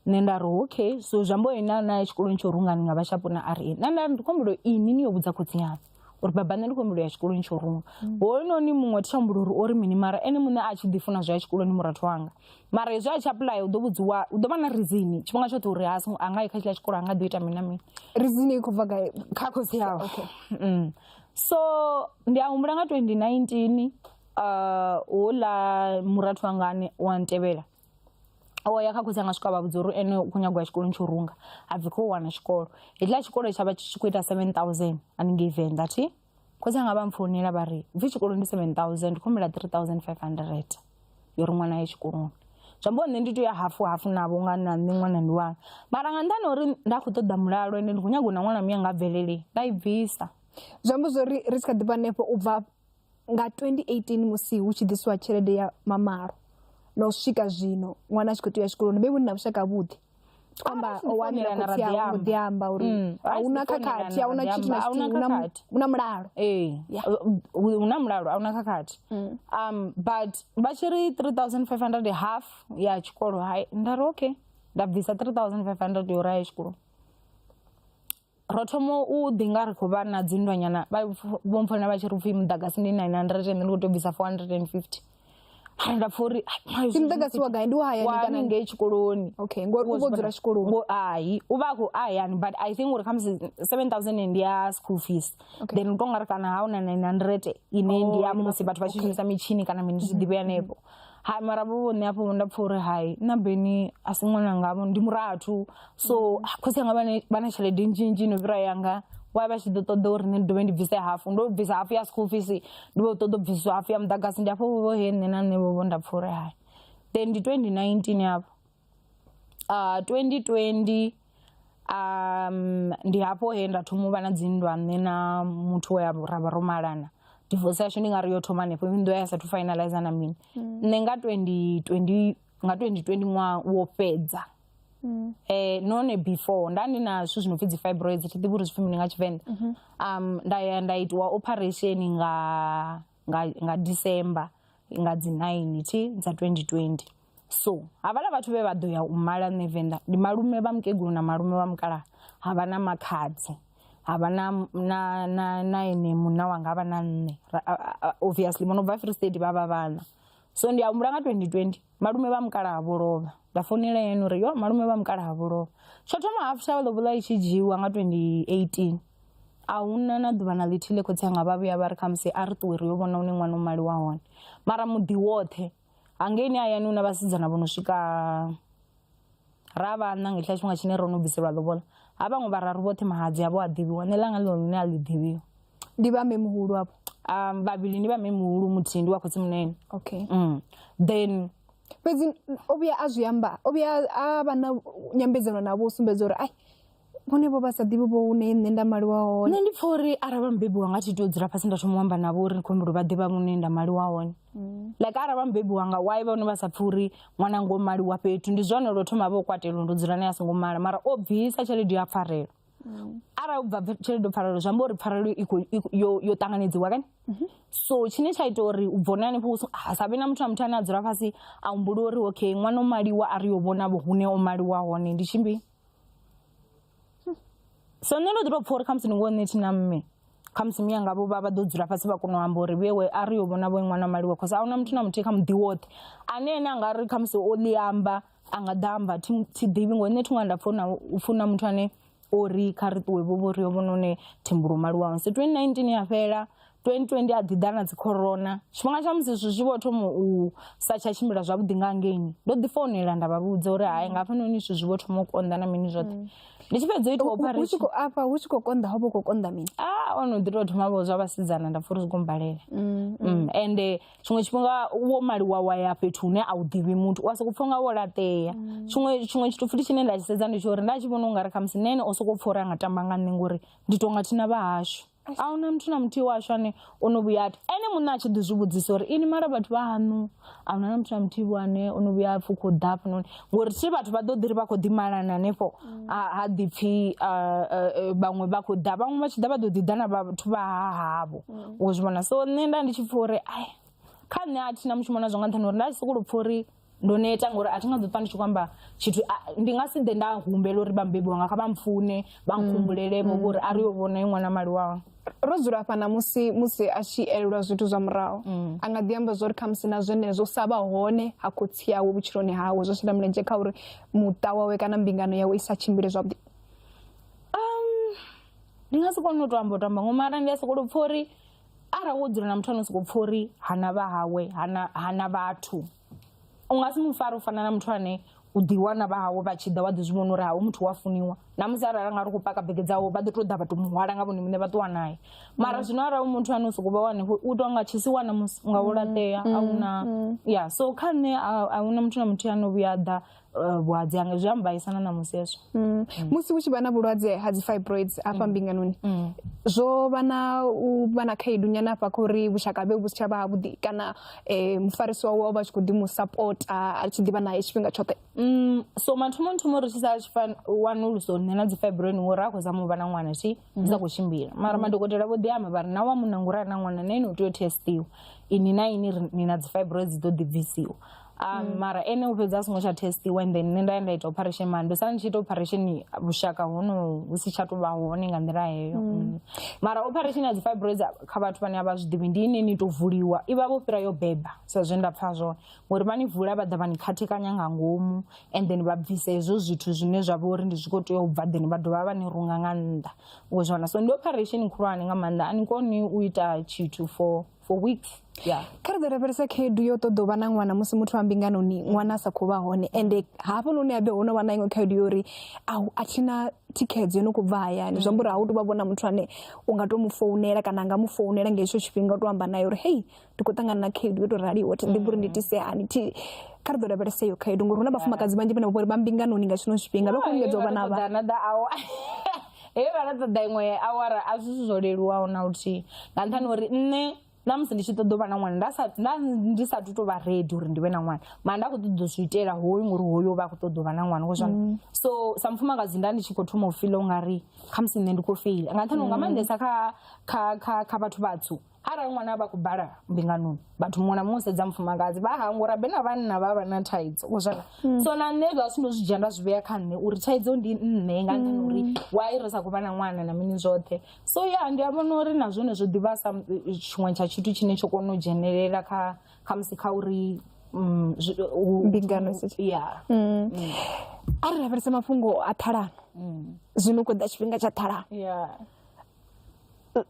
nṋe nda ri okay so zwi amba uri na na ya tshikoloni tsha u runga ni nga vha tsha vhona a ri na nda ndi khou humbula inwi ni yo vhudza khotsi aṋu uri baba nṋe ndi khou humbula ya tshikoloni tsha u runga hoyunoni muṅwe thi tsha humbula uri ori mini mara ene muṋe a tshi ḓi funa zwa ya tshikoloni murathu wanga mara hezwi a tshi apuḽaya u ḓo vhudziwa u ḓo vha na rizini tshifhinga tshoṱhe uri ha a nga yi kha tshiḽa tshikolo a nga ḓo ita mini na mini rizini i khou bva gai kha khotsi awe Mm. so ndi a humbula nga 2019 uh, houḽa murathu wangane wa ntevhela o ya kha khotsi anga swika vha vhudza uri ene u khou nyagwa tshikoloni tsho runga ha bvi khou wana tshikolo hetshiḽa tshikolo tsha vha tshi tshi khou ita seven thousand haningei venḓa thi khotsi anga vha mpfounela vha ri bvi tshikoloni ndi seven thousand ndi khou humbela three thousand five hundred yo ri ṅwana ye tshikoloni zwi ambiwa nṋe ndi tea u ya hafu hafu navho nga na nṋe ṅwana ndi wanga mara nga nṱhani ha uri nda khou ṱoḓa mulalo ende ndi khou nyanga u na ṅwana muyanga a bvelele nda i bvisa zwi amba zwori ri tshi kha ḓi vha hanefho u bva Nga 2018 musi hu tshi ḓiswa tshelede ya mamalo na u swika zwino ṅwana a tshi khou tea u ya tshikoloni vhe vhunna vhushaka vhuḓi amba o wanela khotsi awe mbo ḓi amba uri a hu na khakhathi a hu na tshithu na tshithihi hu na mulalo ee hu na mulalo a hu na khakhathi um but vha tshi ri 3500 half ya tshikolo hai nda ri okay nda bvisa 3500 yo raya tshikoloni ro thoma u ḓi nga ri khou vha na dzinndwanyana vho mpfona vha tshi ri pfhi muḓagasi ndi 900 ndi khou tou bvisa 450 hai nda pfha uri ndi muḓagasi wa gai ndi wa hayani kana ngei tshikoloni okay ngori u vho dzula tshikoloni hai u vha a khou a hayani but i think uri khamusi 7000 ndi ya school fees then u tou nga ri kana ha u na 900 ine ndi ya oh, musi vhathu vha tshi shumisa mitshini kana mini zwi ḓivhe hanefho hai mara vho vhone afho nda pfha uri hai na beni a si ṅwana ngavho ndi murathu so mm. khosi anga vha na tshelede nnzhi nnzhi no fhira yanga wa vha tshi ḓo ṱoḓa uri nṋe ndi dovhe ndi bvise hafu ndo bvisa hafu ya school fees ndi vho ṱoḓa u bvisiswa hafu ya muḓagasi ndi afho vho he nṋe na nṋe vho vho nda pfha uri hai then ndi 2019 yavho uh, 2020 um ndi hafho he nda thoma u vha na dzinndwa nṋe na muthu we ra vha ro malana divorce yashu ndi nga ri yo thoma hanefho nnḓu ya sathu finalize na mini nṋe nga 2020 nga 2020 ṅwaha wo fhedza um none before nda ndi na zwithu zwi no pfi dzi fibroids thi ḓivhi uri zwipfi mini nga tshivenḓa um nda ya nda itiwa operation nga nga, nga december nga dzi 9 thi dza 2020 so havhala vhathu vhe vha ḓo ya u mala nṋe venḓa ndi malume vha mukegulu na malume vha mukalaha ha vha na makhadzi ha vha na na na na ene munna wanga vha na nṋe Ra- a- a- a- obviously vho no bva free state vha vha vhana so ndi a humbula nga 2020 malume vha mukalaha vho lovha nda founela yene uri yo malume vha mukalaha vho lovha tsho thoma half shawe lobola i tshi dzhiiwa nga 2018 a huna na ḓuvha na ḽithihi ḽe khotsi anga vha vhuya vha ri khamusi a ri ṱuwe ri yo vhona une ṅwana u maliwa hone mara muḓi woṱhe hangeini hayani hu na vhasidzana vho no swika ra vha na ngehla tshifhinga tshine ro no bviselwa lobola ha vhaṅwe vhararu vhoṱhe mahadzi avho a ḓivhiwa nṋe ḽanga ḽino lune a ḽi ḓivhiwa ndi vha mme muhulu avho um vhavhili ndi vha mme muhulu muthihi ndi wa khotsi munene okay mm. then fhedzi o vhuya a zwi amba o vhuya a vha na nyambedzano navho u sumbedza uri ai vhone vho vha sa ḓivhi vho hune nṋe nda maliwa hone nṋe ndi pfha uri arali vha mubebi wanga thi tea u dzula fhasi nda thoma u amba navho uri ndi khou humbela vha ḓivha hune nda maliwa hone mm. like arali vha mubebi wanga why vha hone vha sa pfhi uri ṅwana ngo maliwa fhethu ndi zwone lwo thoma vho kwatelo ndo dzula naye a songo mala mara o bvisa tshelede ya pfarelo mm. arali ubva tshelede o pfarelo zwi amba uri pfarelo yo ṱanganedziwa kani mhm. so tshine tsha ita uri u bvone hanefho ha sa vhe na muthu na muthu ane a dzula fhasi a humbula uri okay ṅwana o maliwa a ri yo vhona vho hune o maliwa hone ndi tshimbili so nṋe ndo ḓi tou pfha uri khamusi ni ngo nṋe thina mme khamusi mi yanga vho vha vha ḓo dzula fhasi vha kona u amba uri vhewe a ri yo vhona vho ṅwana maliwe cause ahuna muthu na muthihi kha muḓi woṱhe ane ene a nga ri khamusi o ḽi amba a nga ḓa amba thi thi ḓivhi ngori nṋe thi ṅwana nda pfha na u funa muthu ane o ri kha ri ṱuwe vho vho ri yo vhona hone thimbulo maliwaho so twendi nineteen ya fhela 2020 a ḓi ḓa na dzi corona tshifhinga tsha musi zwithu zwi vho thoma u sa tsha tshimbila zwavhuḓi nga ngeini ndo ḓi founela nda vha vhudza uri hai nga hafhanoni zwithu zwi vho thoma u konḓa na mini zwoṱhe ndi tshi fhedza u ita Hu- hu tshi operation khou afha hu tshi khou konḓa ho vha hu khou konḓa mini ah ono ḓi tou thoma vho zwa vhasidzana nda pfa uri zwi khou mbalela Mm, ende tshiṅwe tshifhinga wo maliwa wa ya fhethu hune a u ḓivhi muthu u a sokou pfa unga wo laṱea tshiṅwe tshiṅwe tshithu futhi tshine nda tshi sedza ndi tsho uri nda tshi vhona ungari khamusi nene o sokou pfa uri a nga tamba nga nṋe ngori ndi tonga thina vha hashu a huna muthu na muthihi washu ane o no vhuya ati ene muṋe a tshi ḓi zwi vhudzisa uri ini mara vhathu vha haṋu a huna na muthu na muthihi vho ane o no vhuya a pfhi u khou ḓa hafhanoni ngori thi vhathu vha ḓo ḓi ri vha khou ḓi malana hanefho ha ha ḓi pfhi ah, eh, eh, vhaṅwe vha khou ḓa vhaṅwe vha tshi ḓa vha ḓo ḓi ḓa na vhathu vha ha havho u zwi vhona so nṋe nda ndi tshi pfha uri ai kha nṋe a thina mushumo nazwo nga nṱhani uri nda tshi sokou pfha uri ndo neta ngori a thi nga ḓo ṱwa ndi tshi khou amba tshithu a- ndi nga si ḓe nda humbela uri vhabebi wanga kha vha mpfune vha nkhumbulelevho vhori a ri yo vhona i ṅwana mali wawe ro dzula hafha na musi musi a tshi elelwa zwithu zwa murahu a nga ḓi amba zwori khamusi na zwenezwo sa vha hone ha khotsi yawe vhutshiloni hawe zwo shela mulenzhe kha uri muṱa wawe kana mbingano yawe i sa tshimbile zwavhuḓi ndi nga si kone u to amba u to amba ngo mara ndi a sokou pfha uri arali wo dzula na muthu ano soko pfha uri hana vha hawe hana hana vhathu u nga si mu fare u fana na muthu ane u ḓi wana vha hawe vha tshi ḓa wa ḓi zwi vhona uri hawe muthu wa funiwa na musi arali nga ri khou paka bege dzawe vha ḓo to ḓa vha to muhwala nga vhone muṋe vha ṱuwa naye mara zwino arali muthu ane u soko vha wane u tou nga tshisi wana musi nga u laṱea a una ya so kha nṋe a huna muthu na muthu ane o vhuya a ḓa eh, vhulwadze hanga zwi ambaisana na musi hezwo Mm. musi hu tshi vha na vhulwadze ha dzi fibroids hafha mbinganoni Mm. zwo vha na u vha na khaedu nyana hafha kha uri vhushaka havhe vhu si tsha vha havhuḓi kana eh, mufarisi wawe o vha a tshi khou ḓi mu sapota a tshi ḓivha naye tshifhinga tshoṱhe Mm, so mathomoni thomo ri tshi sa tshi fan- wanuluso nṋe na dzi fibroin ngori a khou zama u vha na ṅwana thi dzi sa khou tshimbila mara madokotela vho ḓi amba vha ri na wa munna nguri a na ṅwana na ene u tea u testiwa ini na ini ri- ni na dzi fibroids dzi ḓo ḓi bvisiwa Um, mara ene u fhedza a songo tsha testiwa and then nṋe nda ya nda ita operation mara ndo sala ndi tshi ita operation vhushaka hono hu si tsha tou vha hone nga nḓila heyo Mm. mara operation ya dzi fibroids kha vhathu vhane a vha zwi ḓivhi ndi ine ni tou vuliwa i vha vho fhira yo beba sa zwe nda pfha zwone ngori vha ni vula vha ḓa vha ni khathekanya nga ngomu and then vha bvisa hezwo zwithu zwine zwa vha uri ndi zwi khou tea u bva then vha dovha vha ni runga nga nnḓa u zwi wana so ndi operation khulwane nga maanḓa a ni koni u ita tshithu for for weeks yeah kha ri ḓo lavhelesa khaedu yo ṱoḓa u vha na ṅwana musi muthu wa mbinganoni ṅwana a sa khou vha hone ende hafho noni habe ho no vha na iṅwe khaedu yo uri au a thina thikhedzo yo no khou bva hayani zwi amba uri ha u tou vha vhona muthu ane u nga tou mu founela kana a nga mu founela nga hetsho tshifhinga u tou amba naye uri hei ndi khou ṱangana na khaedu yo tou raliho thi ḓivhi uri ndi itise hani thi kha ri ḓo lavhelesa iyo khaedu ngori hu na vhafumakadzi vhanzhi vhane vha vhori vha mbinganoni nga tshino tshifhinga vha khou lingedza u vha na vhana he vha ḽa ṱoḓa iṅwe awara a zwi zwo leluwaho na luthihi nga nṱhani uri nṋe na musi ndi tshi ṱoḓa u vha na ṅwana nda sa nda ndi sa tu to vha ready uri ndi vhe na ṅwana mara nda kho ṱoḓa zwi itela hoyu ngori hoyu vha kho ṱoḓa u vha na ṅwana ngo zwani mm. so sa mufumakadzi nda ndi tshi kho thoma u feel ungari kha musi nṋe ndi kho feel nga nṱhani nga mm. maanḓesa kha kha kha kha vhathu vhatsu Arali ṅwana a vha khou bala mbinganoni vhathu muṅwe na muṅwe sedza mufumakadzi vha hangwa uri na vhanna vha vha na thaidzo uzwana mm. so na nṋe zwa sino zwi dzhia nda zwi vhea kha nṋe uri thaidzo ndi nṋe nga nṱhani uri mm. why ri sa khou vha na ṅwana na mini zwoṱhe so ya ndi a vhona uri na zwone zwo ḓivha sa tshiṅwe tsha tshithu tshine tsho kona u dzhenelela kha khamusi kha uri mm, mbingano ya a ri lavhelese mafhungo a ṱhalano zwino u khou ḓa tshifhinga tsha ṱhalano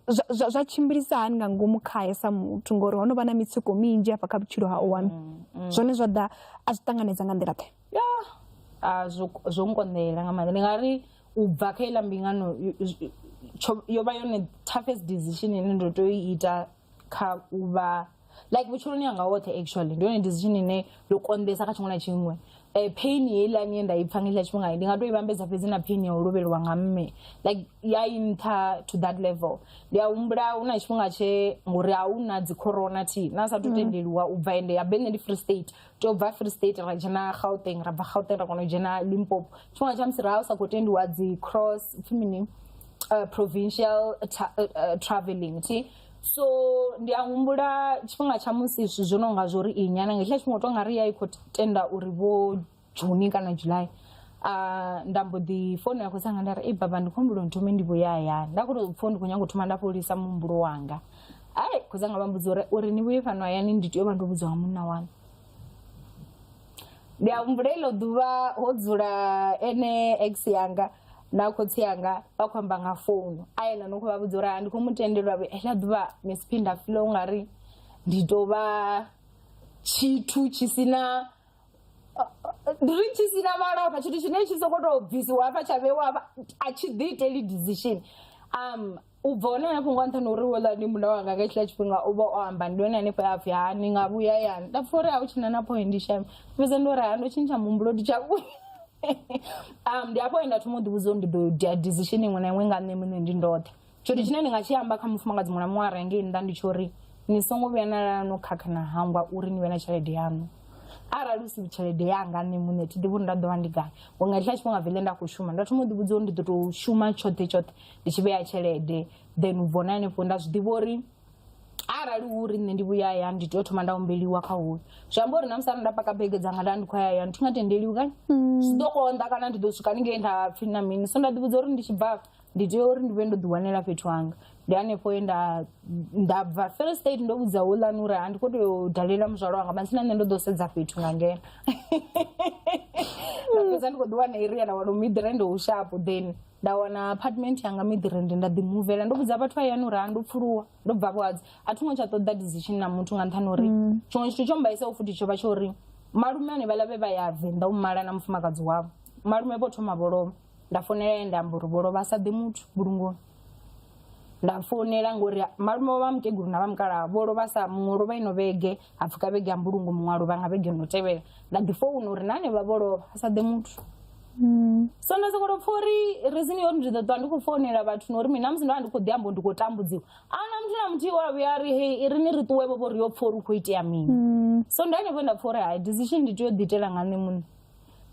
zwa- zwa zwa tshimbilisa hani nga ngomu khae sa muthu ngori ho no vha na mitsiko minzhi hafha kha vhutshilo ha one zwone zwa ḓa a zwi ṱanganedza nga nḓila ḓe ya a zwo zwo nkonḓela nga maanḓa ndi nga ri u bva kha iḽa mbingano yo- yo- tsho- yo vha yone toughest decision ine ndo tea u i ita kha u vha like vhutshiloni hanga hoṱhe actually ndi yone decision ine yo konḓesa kha tshiṅwe na tshiṅwe um pain heiḽani ye nda i pfha nga hetshiḽa tshifhinga ndi nga to i vhambedza fhedzi na pain ya u lovheliwa nga mme like ya i nṱha to that level ndi a humbula hu na tshifhinga tshe ngori a hu na dzi corona thi na sathu tendeliwa u bva ende ya be nṋe ndi free state tobva free state ra dzhena gauteng ra bva gauteng ra kona u dzhena limpopo tshifhinga tsha musi ra u sa khou tendiwa dzi cross pfhi mini uh, provincial tra uh, uh, traveling thi so ndi a humbula tshifhinga tsha musi zwithu zwo no nga zwo ri inya na nga hetshiḽa tshifhinga u tou nga ri ya i khou tenda uri vho juni kana july uh, nda mbo ḓi fono ya khosanga nda ri ei baba ndi khou humbula nthome ndi vhuya hayani nda khou tou pfha ndi khou nyanga u thoma nda fholisa muhumbulo wanga ai khotsi anga vha mbudza uri uri ni vhuye fhano hayani ndi tea u vha ndo vhudzwa nga munna wanu ndi a humbula iḽo ḓuvha ho dzula ene ex yanga na khotsi yanga vha khou amba nga founu a yena no khou vha vhudza uri ha ndi khou mu tendelwa vhe heḽa ḓuvha miss phinda filo u nga ri ndi tou vha tshithu tshi si na ndi ri tshi si na malofha tshithu tshine tshi sokou tou bvisiwa hafha tsha vheiwa hafha a tshi ḓi iteli decision um u bva hone hafho nga nṱhani uri wela ndi muda wanga nga tshila tshifhinga u vha o amba ndi hone hanefho ya pfhi ha ni nga vhuya yani nda pfa uri a u tshina na point shame fhedza ndi uri ha ndo tshintsha muhumbulo ndi tsha vhuya um ndi hafho nda thoma u ḓivhudza uri ndi ḓo dia decision iṅwe na iṅwe nga nṋe muṋe ndi ndoṱhe tshithu tshine ndi nga tshi amba kha mufumakadzi muṅwe na muṅwe a renge nnḓa ndi tsho uri ni songo vhuya na lala no khakha na hangwa uri ni vhe na tshelede yaṋu arali u si tshelede yanga nṋe muṋe thi ḓivhi uri nda ḓo vha ndi gai ngori nga tshila tshifhinga vele nda khou shuma nda thoma u ḓivhudza uri ndi ḓo tou shuma tshoṱhe tshoṱhe ndi tshi vhea tshelede then u vhona henefho nda zwi ḓivha uri arali hu uri nṋe ndi vhuya ya ndi tea u thoma nda humbeliwa kha huyo zwi amba uri na musi arali nda paka bege dzanga nda ndi khou ya ya ndi thi nga tendeliwi kani mm. zwi ḓo konḓa kana ndi ḓo swika ni ngei nda pfhi na mini so nda ḓivhudza uri ndi tshi bva ndi tea uri ndi vhe ndo ḓiwanela fhethu hanga ndi hanefho ye nda nda bva first state ndo vhudza houḽani uri a ndi khou tea u dalela muzwalo wanga matsina nṋe ndo ḓo sedza fhethu nga ngena fhedza ndi khou ḓiwana iri ya na wano miḓi rende u shapo then nda wana apartment yanga miḓirende nda ḓimuvela ndo vhudza vhathu vha yani uri ha ndo pfuluwa ndo bva vhadzi a thi ngo tsha ṱoḓa decision na muthu nga nṱhani uri mm. tshiṅwe tshithu tsho mbaisao futhi tsho vha tsho uri malume ane vhaḽa vhe vha ya venḓa u mala na mufumakadzi wavho malume vho thoma vho lovha nda founela ye nda amba uri vho lovha a sa ḓe muthu vhulungoni nda founela ngori malume wa vha mutegulu na vha mukalaha vho lovha sa muṅwe lovha ino vhege ha pfuka vhege ya mbulungo muṅwe a lovha nga vhege no tevhela nda ḓi founa uri na hanevha vho lovha a sa ḓe muthu hmm. so nda sokoto pfa uri rizini yori ndi ḓo ṱwa ndi khou founela vhathu na uri mina musi ndo vha ndi khou ḓi ambo ndi khou tambudziwa ana muthu na muthihi wa vhuya ri hei i ri ni ri ṱuwe vhovo ri yo pfa uri u khou itea mini hmm. so ndi hanefho nda pfa uri hai decision ndi tea u ḓiitela nga nṋe muṋe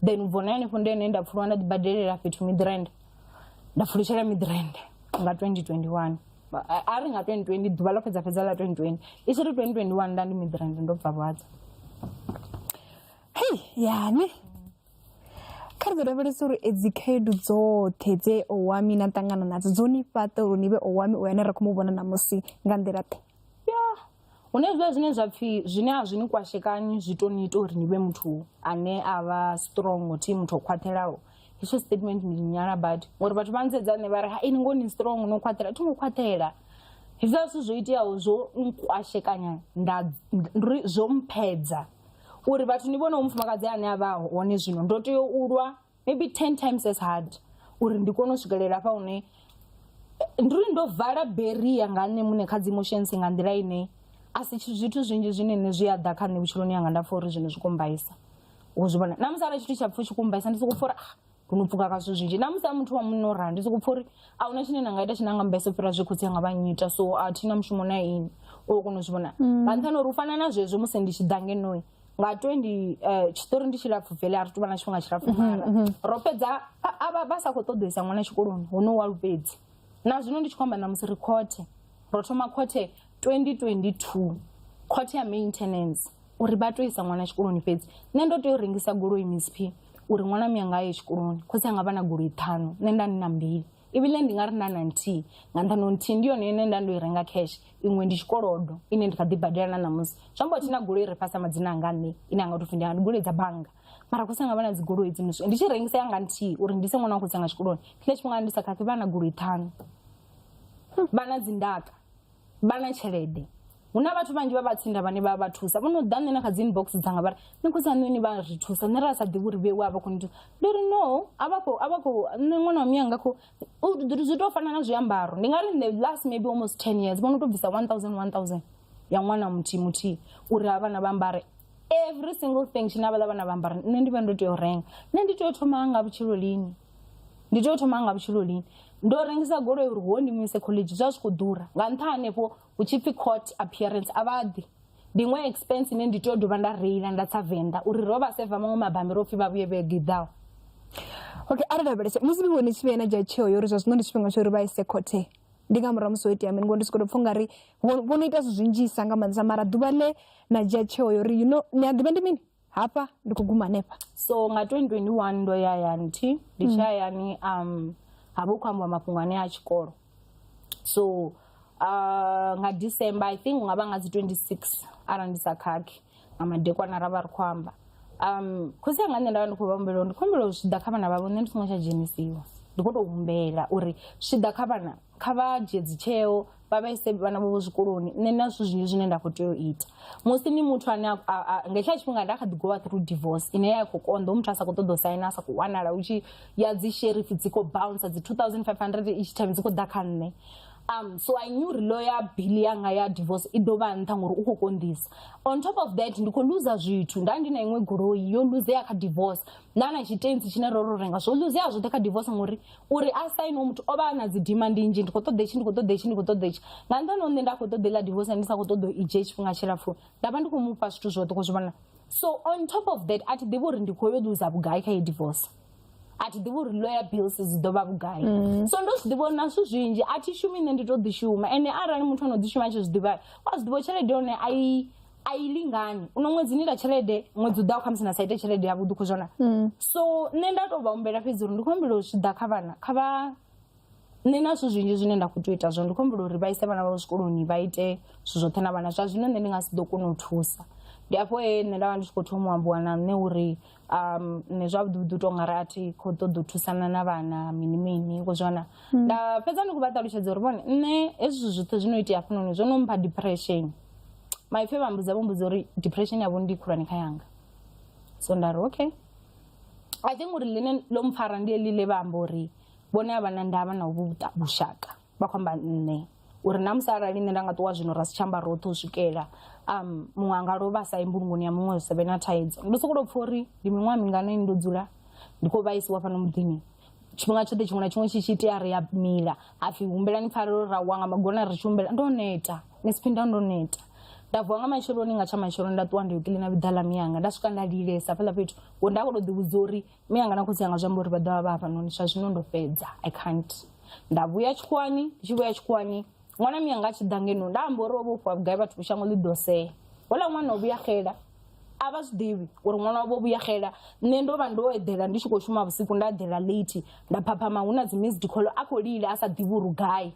then u bvona hanefho ndi ene nda pfulwa nda ḓibadelela fhethu midrand nda pfulutshela midrand nga 2021 Ba- a- a ri nga 2020 ḓuvha ḽo fhedza fhedza ḽa 2020 i tshi ri 2021 nda ndi midrand ndo bva vhadza hei yani kha ri ḓo lavhelesa uri edzi khaedu dzoṱhe dze owami na ṱangana nadzo dzo ni fhaṱa uri ni vhe owami o yane ra khou mu vhona ṋamusi nga nḓila ḓe hu na hezwiḽa zwine zwa pfhi zwine a zwi ni kwashekanyi zwi to ni ita uri ni vhe muthu ane a vha strong thi muthu o khwaṱhelaho hetsho statement ndi nyala badi ngori vhathu vha nsedza nṋe vha ri ha ini ngo ni strong no khwaṱhela thi ngo khwaṱhela hezwiḽa zwithu zwo iteaho zwo nkwashekanya nda ri zwo mphedza uri vhathu ni vhone ho mufumakadzi ane a vha hone zwino ndo tea u lwa maybe ten times as hard uri ndi kone u swikelela hafha hune ndi uri ndo vala beria nga nṋe muṋe kha dzi emotions nga nḓila ine a si tshi- zwithu zwinzhi zwine nṋe zwi a ḓa kha nṋe vhutshiloni yanga nda pfa uri zwino zwi kumbaisa wo zwi vhona na musi arali tshithu tsha pfha tshi kumbaisa ndi sokou pfa uri ah, hu no pfuka ka zwithu zwinzhi na musi a muthu wa munna o rali ndi sokou pfa uri a huna tshine na nga ita tshine a nga mbaisa u fhira zwe khotsi anga vha nnyita so a thi na mushumo na ini o kona u zwi vhona nga nṱhani uri u fana na zwezwo musi ndi tshi ḓa ngenoyi nga 20 eh, tshiṱori ndi tshilapfu vele a ri tuvha na tshifhinga tshilapfu mm-hmm, mara mm-hmm. ro fhedza avha vha sa khou ṱoḓoisa ṅwana tshikoloni hono wa lupedzi na zwino ndi tshi khou amba na musi ri khothe ro thoma khothe 2022 khothe ya maintenance uri vha to isa ṅwana tshikoloni fhedzi nṋe ndo tea u rengisa goloi misp uri ṅwana miyanga aye tshikoloni khotsi anga vha na goloi ṱhanu nṋe nda ni na mbili ibile ndi nga ri na na nthihi nga nṱhani uri nthihi ndi yone ine nda ndo i renga cash iṅwe ndi tshikolodo ine ndi kha ḓi badela na ṋamusi zwi amba thina goloi ri fhasi madzina anga nṋe ine anga topfi ndi ndi goloi dza bannga mara khotsi anga vha na dzigoloi dzino ndi tshi rengisa yanga nthihi uri ndi se ṅwana wa khotsi anga tshikoloni tshine tshifhinga ndi sa khakhi vha na goloi ṱhanu vha na dzindaka vha na tshelede hu na vhathu vhanzhi vha vhatsinda vhane vha vha thusa vho no ḓa nṋe na kha dzi inbox dzanga vha ri ni khotsi aṋe ni vha ri thusa nṋe ra sa ḓivhi uri vhewe a vha khou ni thusa ndi ri no a vha khou a vha khou nṋe ṅwana wa miyanga khou zwi tou fana na zwiambaro ndi nga ri the last maybe almost ten years vho no tou bvisa one thousand one thousand ya ṅwana muthihi muthihi uri ha vhana vha ambare every single thing tshine havhaḽa vhana vha ambara nṋe ndi vha ndo tea u renga nṋe ndi tea u thoma nga vhutshilo lini ndi tea u thoma nga vhutshilo lini ndo rengisa goloi uri ho ndi muise college zwa zwi khou ḓura nga nṱha hanefho hu tshi pfi court appearance a vha ḓi ndi iṅwe expense ine ndi tea u dovha nda reila nda tsa venḓa uri ro vha seva maṅwe mabammbiri o pfi vha vhuye vhege i ḓaho okay a ri lavhelese musi vhingo ni tshi vhuya na dzhia tsheo yo uri zwa zwino ndi tshifhinga tsho uri vha ise khothe ndi nga murahu musi ho itea mini ngori ndi soko to pfha ungari vho no ita zwinzhisa nga maanḓesa mara ḓuvha ḽe na dzhia tsheo yo uri you know ni a ḓivha ndi mini hafha ndi khou guma hanefha so nga 2021 ndo ya hayani thi ndi tshi hayani um ha vha hu khou ambiwa mafhungo ane a tshikolo so uh, nga december i think nga vha nga dzi 26 arali ndi sa khakhi nga madekwana ra vha ri khou amba um khosi anga nṋe nda vha ndi khou vha humbela uri ndi khou humbela uri zwi ḓa kha vhana vhavho nṋe ndi songo tsha dzhenisiwa ndi khou tou humbela uri zwi ḓa kha vhana kha vha dzhie dzitsheo vha vhaise vhana vhavho zwikoloni nṋe na zwithu zwinzhi zwine nda khou tea u ita musi ni muthu ane a- a- a- nga hetshiḽa tshifhinga nda kha ḓi gowa through divorce ine ya khou konḓa u muthu a sa khou ṱoḓa u saina a sa khou wanala u tshi ya dzi sherif dzi khou bouncer dzi 2500 each time dzi khou ḓa kha nṋe um so i knew uri lo ya bill yanga ya divorce i ḓo vha nṱha ngori u khou konḓisa on top of that ndi khou luza zwithu nda ndi na iṅwe goloi yo luzea kha divorce nda na tshitensi tshine ro ro renga zwo luzea zwoṱhe kha divorce ngori uri a sainiwe muthu o vha a na dzi dimandi nnzhi ndi khou ṱoḓa itshi ndi khou ṱoḓa itshi ndi khou ṱoḓa itshi nga nṱhani hone nda khou ṱoḓa iḽa divorce ndi sa khou ṱoḓa i dzhie tshifhinga tshilapfu nda vha ndi khou mufha zwithu zwoṱhe khou zwi vhona so on top of that a thi ḓivhi uri ndi khou yo ḽuza vhugai kha ye divorce a thi ḓivhi uri lawyer bills dzi ḓo vha vhugai mm. so ndo zwi ḓivha uri na zwithu zwinzhi a thi shumi nṋe ndi to ḓi shuma ende arali muthu ano ḓi shuma a tshi zwi ḓivha wa zwi ḓivha tshelede yone a i a i lingani uno ṅwedzi ni ita tshelede ṅwedzi u ḓaho khamusi na sa ite tshelede yavhuḓi u khou zwona so nṋe nda tou vha humbela fhedzi uri ndi khou humbela u zwi ḓa kha vhana kha vha nṋe na zwithu zwinzhi zwine nda khou tea u ita zwone ndi khou humbela uri vha ise vhana vhavho zwikoloni vha ite zwithu zwoṱhe na vhana zwa zwino nṋe ndi nga si ḓo kona u thusa ndi afho he nṋe nda vha ndi tshi khou thoma u ambiwa na nṋe uri um ni zwavhuḓi vhuḓi u tonga ri a thi khou ṱoḓa u thusana na vhana mini mini ko zwana hmm. nda fhedza ndi khou vha ṱalutshedza uri vhone nṋe hezwi zwoṱhe zwi no itea hafhanoni zwo no mpha depression maipfi vha mbudza vho mbudza uri depression yavho ndi khulwane kha yanga so nda ri okay i think uri ḽine ḽo mpfara ndi eḽi ḽe vha amba uri vhone a vha na ndavha na uvhu vhushaka vha khou amba nṋe uri na musi arali nṋe nda nga ṱuwa zwino ra si tsha amba roṱhe u swikela um muṅwe a nga lovha a sa ye mbulungoni ya muṅwe hu sa vhe na thaidzo ndo sokou tou pfha uri ndi miṅwaha mingana ini ndo dzula ndi khou vhaisiwa fhano muḓini tshifhinga tshoṱhe tshiṅwe na tshiṅwe tshi tshi itea ri a mila hapfi humbelani pfarelo ra wa nga magona ri tshi humbela ndo neta ni si phinda ndo neta nda vuwa nga matsheloni nga tsha matsheloni nda ṱuwa ndi yo kiḽina vhiḓa ḽa miyanga nda swika nda lilesa fhaḽa fhethu ngo nda khou tou ḓivhudza uri mi anga na khotsi anga zwi amba uri vha ḓovha vha hafhanoni zwa zwino ndo fhedza i can't nda vhuya tshikhuwani ndi tshi vhuya tshikhuwani ṅwana mi anga a tshi ḓa ngeno nda amba uri o vha u fhiwa vhugai vhathu shango ḽi ḓo sea houḽa ṅwana o vhuya xela a vha zwi ḓivhi uri ṅwana wavho o vhuya xela nṋe ndo vha ndo eḓela ndi tshi khou shuma vhusiku nda eḓela late nda phaphama hu na dzi missed call a khou lila a sa ḓivhi uri gai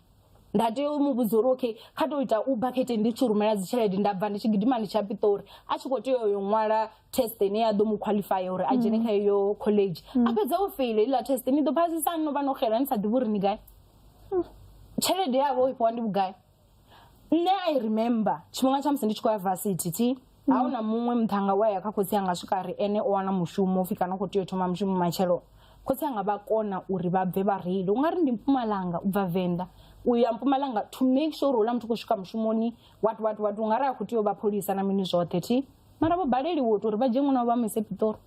nda tea u mu vhudza uri okay kha to ita uber khete ndi tshi rumela dzi tshelede nda bva ndi tshi gidima ndi tsha piṱori a tshi kho tea uyo ṅwala test ine ya ḓo mu qualify uri a dzhene kha iyo college a fhedza o feile iḽa test ni ḓo phasisa no vha no xela ni sa ḓivhi uri ni gai tshelede yavho i fhiwa ndi vhugai nṋe i remember tshifhinga tsha musi ndi tshi khou ya varsity thi a hu na muṅwe muṱhanga we a ya kha khotsi anga swika ri ene o wana mushumo upfhi kana u khou tea u thoma mushumo matshelo khotsi anga vha kona uri vha bve vha reile u nga ri ndi mpumalanga u bva venḓa u ya mpumalanga to make sure uri hula muthu khou swika mushumoni wat wat wat u nga ri a khou tea u vha pholisa na mini zwoṱhe thi mara vho baleliwa u to uri vha dzhie ṅwana wa vha mu ise pitori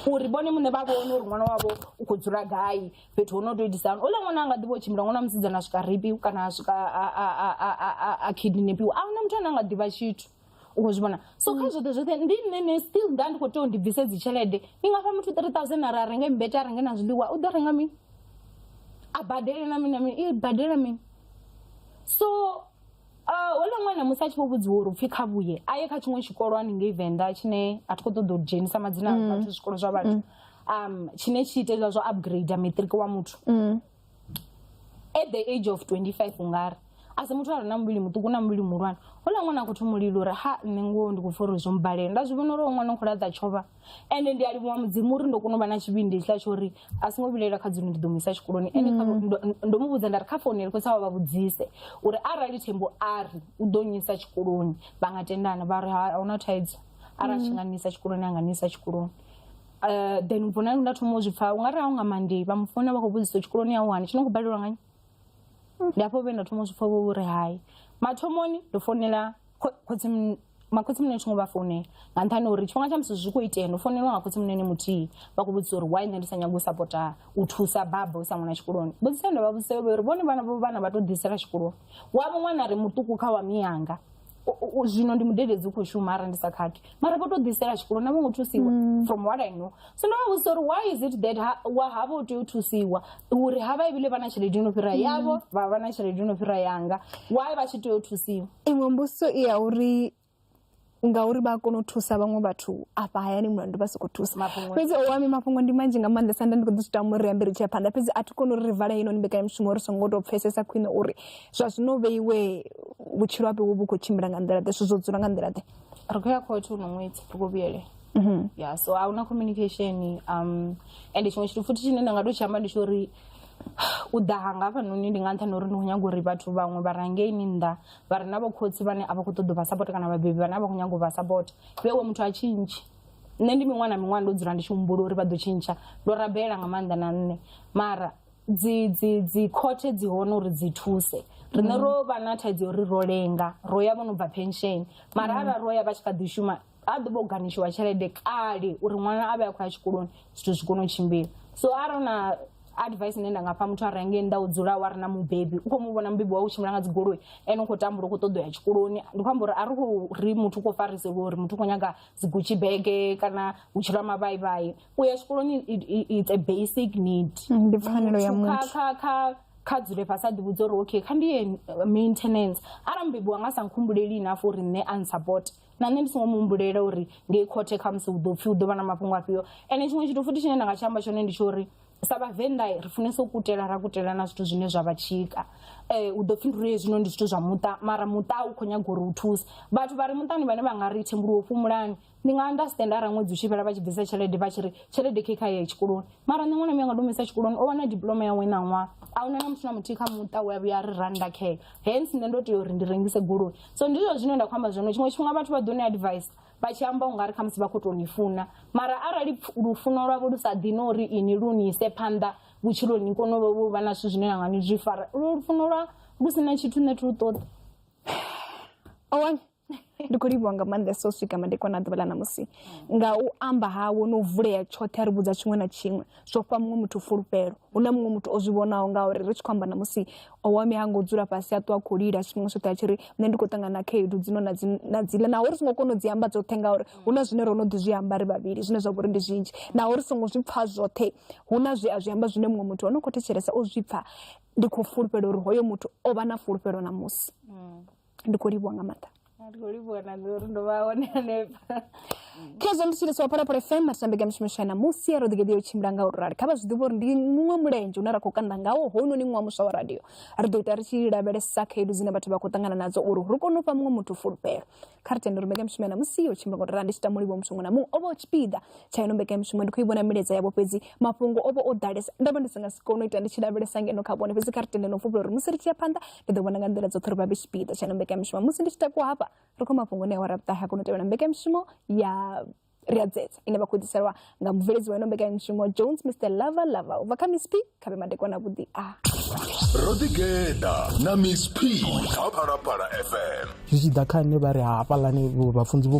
uri vhone muṋe vha vhone uri ṅwana wavho u khou dzula gai fhethu ho no tou itisa hani ola ṅwana a nga ḓivha u tshimbila ṅwana musidzana a swika ripi kana a swika a kidnapiwa a huna muthu ane a nga ḓivha tshithu u khou zwi vhona so kha mm. zwoṱhe zwoṱhe ndi nṋe ne still nda ndi khou tea u ndi bvise dzi tshelede ndi nga fha muthu three thousand ara a renge mbete a renge na zwiḽiwa u ḓo renga mini a badele na mini na mini i badela mini so Ah, houḽa ṅwana musi a tshi vho vhudziwa uri upfhi kha vhuye a ye kha tshiṅwe tshikolo haningei venḓa tshine a thi khou ṱoḓa u dzhenisa madzina a vhathu zwikolo zwa vhathu um tshine tshi ita hezwiḽa zwa upgrade matric wa muthu at the age of 25 ungari a si muthu a re na muvhili muṱuku na muvhili muhulwane houḽa ṅwana a khou thoma u lila uri ha nṋe ngoho ndi khou pfa uri zwo mbalela nda zwi vhona uri hoyu ṅwana u khou laṱa tshova ende ndi a livhuwa mudzimu uri ndo kona u vha na tshivhindi hetshiḽa tsho uri a songo vhilaela kha dzino ndi ḓo mu isa tshikoloni ende kha- Mm. ndo- ndo mu vhudza nda ri kha founele khotsi awe vha vhudzise uri arali thembo a ri u ḓo nyisa tshikoloni vha nga tendana vha ri "Ha- ahuna thaidzo arali tshi Mm. nga nisa tshikoloni a nga nisa tshikoloni Eh, then ubvo na nda thoma u zwi pfa u nga ri a u nga mandei vha mu founa vha khou vhudzisa tshikoloni ya wani tshi no khou balelwa ngani ndi afho vhe nda thoma u zwi pfa vho uri hai mathomoni ndo founela Kho- khotsi mun- makhotsi munene tshingo vha founela nga nṱhani ha uri tshifhinga tsha musi zwi khou itea no founelwa nga khotsi munene muthihi vha khou vhudzisa uri why nṋe ndi sa nyagi u sapota u thusa baba u sa ṅwana tshikoloni mbudziso ye nda vha vhudzisa yo vha uri vhone vhana vho vhana vha tou ḓisela tshikoloni wavho ṅwana ri muṱuku kha wa miyanga U- u- u- zwino ndi mudededzi u khou shuma arali ndi sa khakhi mara vho to ḓisela tshikolo na vhongo thusiwa mm. from what i know so ndo vha vhudzisa uri why is it that wa havha u tea u thusiwa uri ha vha ibile vha na tshelede yo no fhira mm. yavho vha vha na tshelede yo no fhira yanga why vha tshi tea u thusiwa iṅwe mbudziso i ya uri ngauri vha kona u thusa vhaṅwe vhathu afha hayani mulandu vha sokou thusa fhedzi o wami mafhungo ndi manzhi nga maanḓesa nda ndi khou ḓi zwi tama uri ambe ri tshia phanḓa fhedzi a thi koni uri ri vale ino ni mbekanyamushumo ri songo tou pfesesa khwine uri zwa zwino vheiwe vhutshilo hape wo vhu khou tshimbila nga nḓila ḓe zwithu zwo dzula nga nḓila ḓe ri khou ya khothe uno ṅwedzi ri khou vhuyele mm-hmm. ya so a huna communication um ende tshiṅwe tshithu futhi tshine nda nga to tshi amba ndi tsho uri u ḓa hanga hafhanoni ndi nga nṱhani uri ndi khou nyaga uri vhathu vhaṅwe vha rangeini nnḓa vha re na vhokhotsi vhane a vha khou ṱoḓa u vha sapota kana vhabebi vhane a vha khou nyaga u vha sapota vhewe muthu a tshintshe nṋe ndi miṅwana miṅwana ndo dzula ndi tshi humbula uri vha ḓo tshintsha ndo rabela nga maanḓa na nṋe mara dzi dzi dzi khothe dzi hone uri dzi thuse riṋe mm. ro vha na thaidzo yo ri ro lenga ro ya vho no bva pension mara mm. arali ro ya vha tshi kha ḓi shuma a ḓo vha u ganitshiwa tshelede kale uri ṅwana a vhe a khou ya tshikoloni zwithu zwi kone u tshimbila so arali na advice ine nda nga fha muthu a renge nnḓa u dzula wa ri na mubebi u khou mu vhona mubebi wa u tshimbila nga dzigoloi ene u khou tambula u khou ṱoḓo ya tshikoloni ndi khou amba uri a ri khou ri muthu u khou fariseliwa uri muthu u khou nyaga dzigutshi bege kana vhutshilo ha mavhaivhai u ya tshikoloni it's a basic need mm, ndi pfanelo ya muthu kha kha kha dzule fhasi a ḓivhudza uri okay kha ndi ye uh, maintenance arali mubebi wanga sa nkhumbuleli enough uri nṋe a nsupport na nṋe ndi songo muhumbulela uri ngei khothe khamusi hu ḓo pfhi hu ḓo vha na mafhungo afhio ende tshiṅwe tshithu futhi tshine nda nga tshi amba tshone ndi tsho uri sa vhavenḓa ri funesa u kutela ra kutela na zwithu zwine zwa vha tshika eh, u ḓo pfhi nduri hezwino ndi zwithu zwa muṱa mara muṱa u khou nyaga uri u thuse vhathu vha re muṱani vhane vha nga ri thembuluwo fhumulani ndi nga anda stand ara ṅwedzi u tshi fhela vha tshi bvisa tshelede vha tshi ri tshelede khe kha ye tshikoloni mara nṋe ṅwana mi anga ndomisa tshikoloni o wana diploma yawe na ṅwaha a huna na muthu na muthihi kha muṱa we a vhuya a ri randa khe hence nṋe ndo tea uri ndi rengise goloi so ndi zwo zwine nda khou amba zwone tshiṅwe tshifhinga vhathu vha ḓo ni advice vha tshi amba u nga ri khamusi vha khou tou ni funa mara arali lufuno lwavho lu sa ḓini uri ini lu ni ise phanḓa vhutshiloni ni kone u vha na zwithu zwine na nga ni zwi fara lufuno lwa lu si na tshithu nṋe thi lu ṱoḓi ndi khou livhuwa nga maanḓesa u swika madekwana a ḓuvha ḽa ṋamusi nga u amba hawe no vulea tshoṱhe a ri vhudza tshiṅwe na tshiṅwe zwo fha muṅwe muthu fulufhelo hu na muṅwe muthu o zwi vhonaho ngauri ri tshi khou amba ṋamusi owami ha ngo dzula fhasi a ṱuwa khou lila tshifhinga tshoṱhe a tshi ri nṋe ndi khou ṱangana na khaedu dzino na dziḽa naho ri songo kona u dzi amba dzoṱhe ngauri hu na zwine ro no ḓi zwi amba ri vhavhili zwine zwa vha uri ndi zwinzhi naho ri songo zwi pfha zwoṱhe hu na zwi a zwi amba zwine muṅwe muthu o no khou thetshelesa o zwi pfha ndi khou fulufhela uri hoyo muthu o vha na fulufhelo ṋamusi mm. ndi khou livhuwa nga maanḓa ndi khou livhuwa na nṋe uri ndo vha hone hanefha kha zwa mutshili sa waphalaphala fm matambega mishumo swa namusi ya roḓigeḓi ya u tshimbila nga u rali kha vha zwi ḓivha uri ndi muṅwe mulenzhe une ra khou kanda ngawo hounoni ṅwa muswa wa radio ri ḓo ita ri tshi lavhelesa khaedu dzine vhathu vha khou ṱangana nadzo uri ri kone u fha muṅwe muthu fulufhelo kha ri tende uri mbekamishumo ya namusi ya u tshimbila nga u rali ndi tshi tama mulivho muthu muṅwe na muṅwe o vha o tshipiḓa tsha ino mbekamishumo ndi khou i vhona milaedza yavho fhedzi mafhungo o vha o ḓalesa nda vha ndi si nga si kone u ita ndi tshi lavhelesa ngeno kha vhone fhedzi kha ri tende no fulufhela uri musi ri tshi ya phanḓa ri ḓo vhona nga nḓila dzoṱhe uri vha vhe tshipiḓa tsha no mbekanyamushumo musi ndi tshi takuwa hafha ri khou mafhungoni a wara vhuṱahe a kona u tevhela mbekanyamushumo ya ri a dzedza ine vha khou ḓiselwa nga mubveledzi wa ino mbekanyamushumo jones mr lava lava u bva kha miss p kha vhe madekwana vhuḓi a ro ḓigeḓa na miss p kha phalaphala fm zwi tshi ḓa kha nṋe vha ri hafhaḽani vhafunzi vho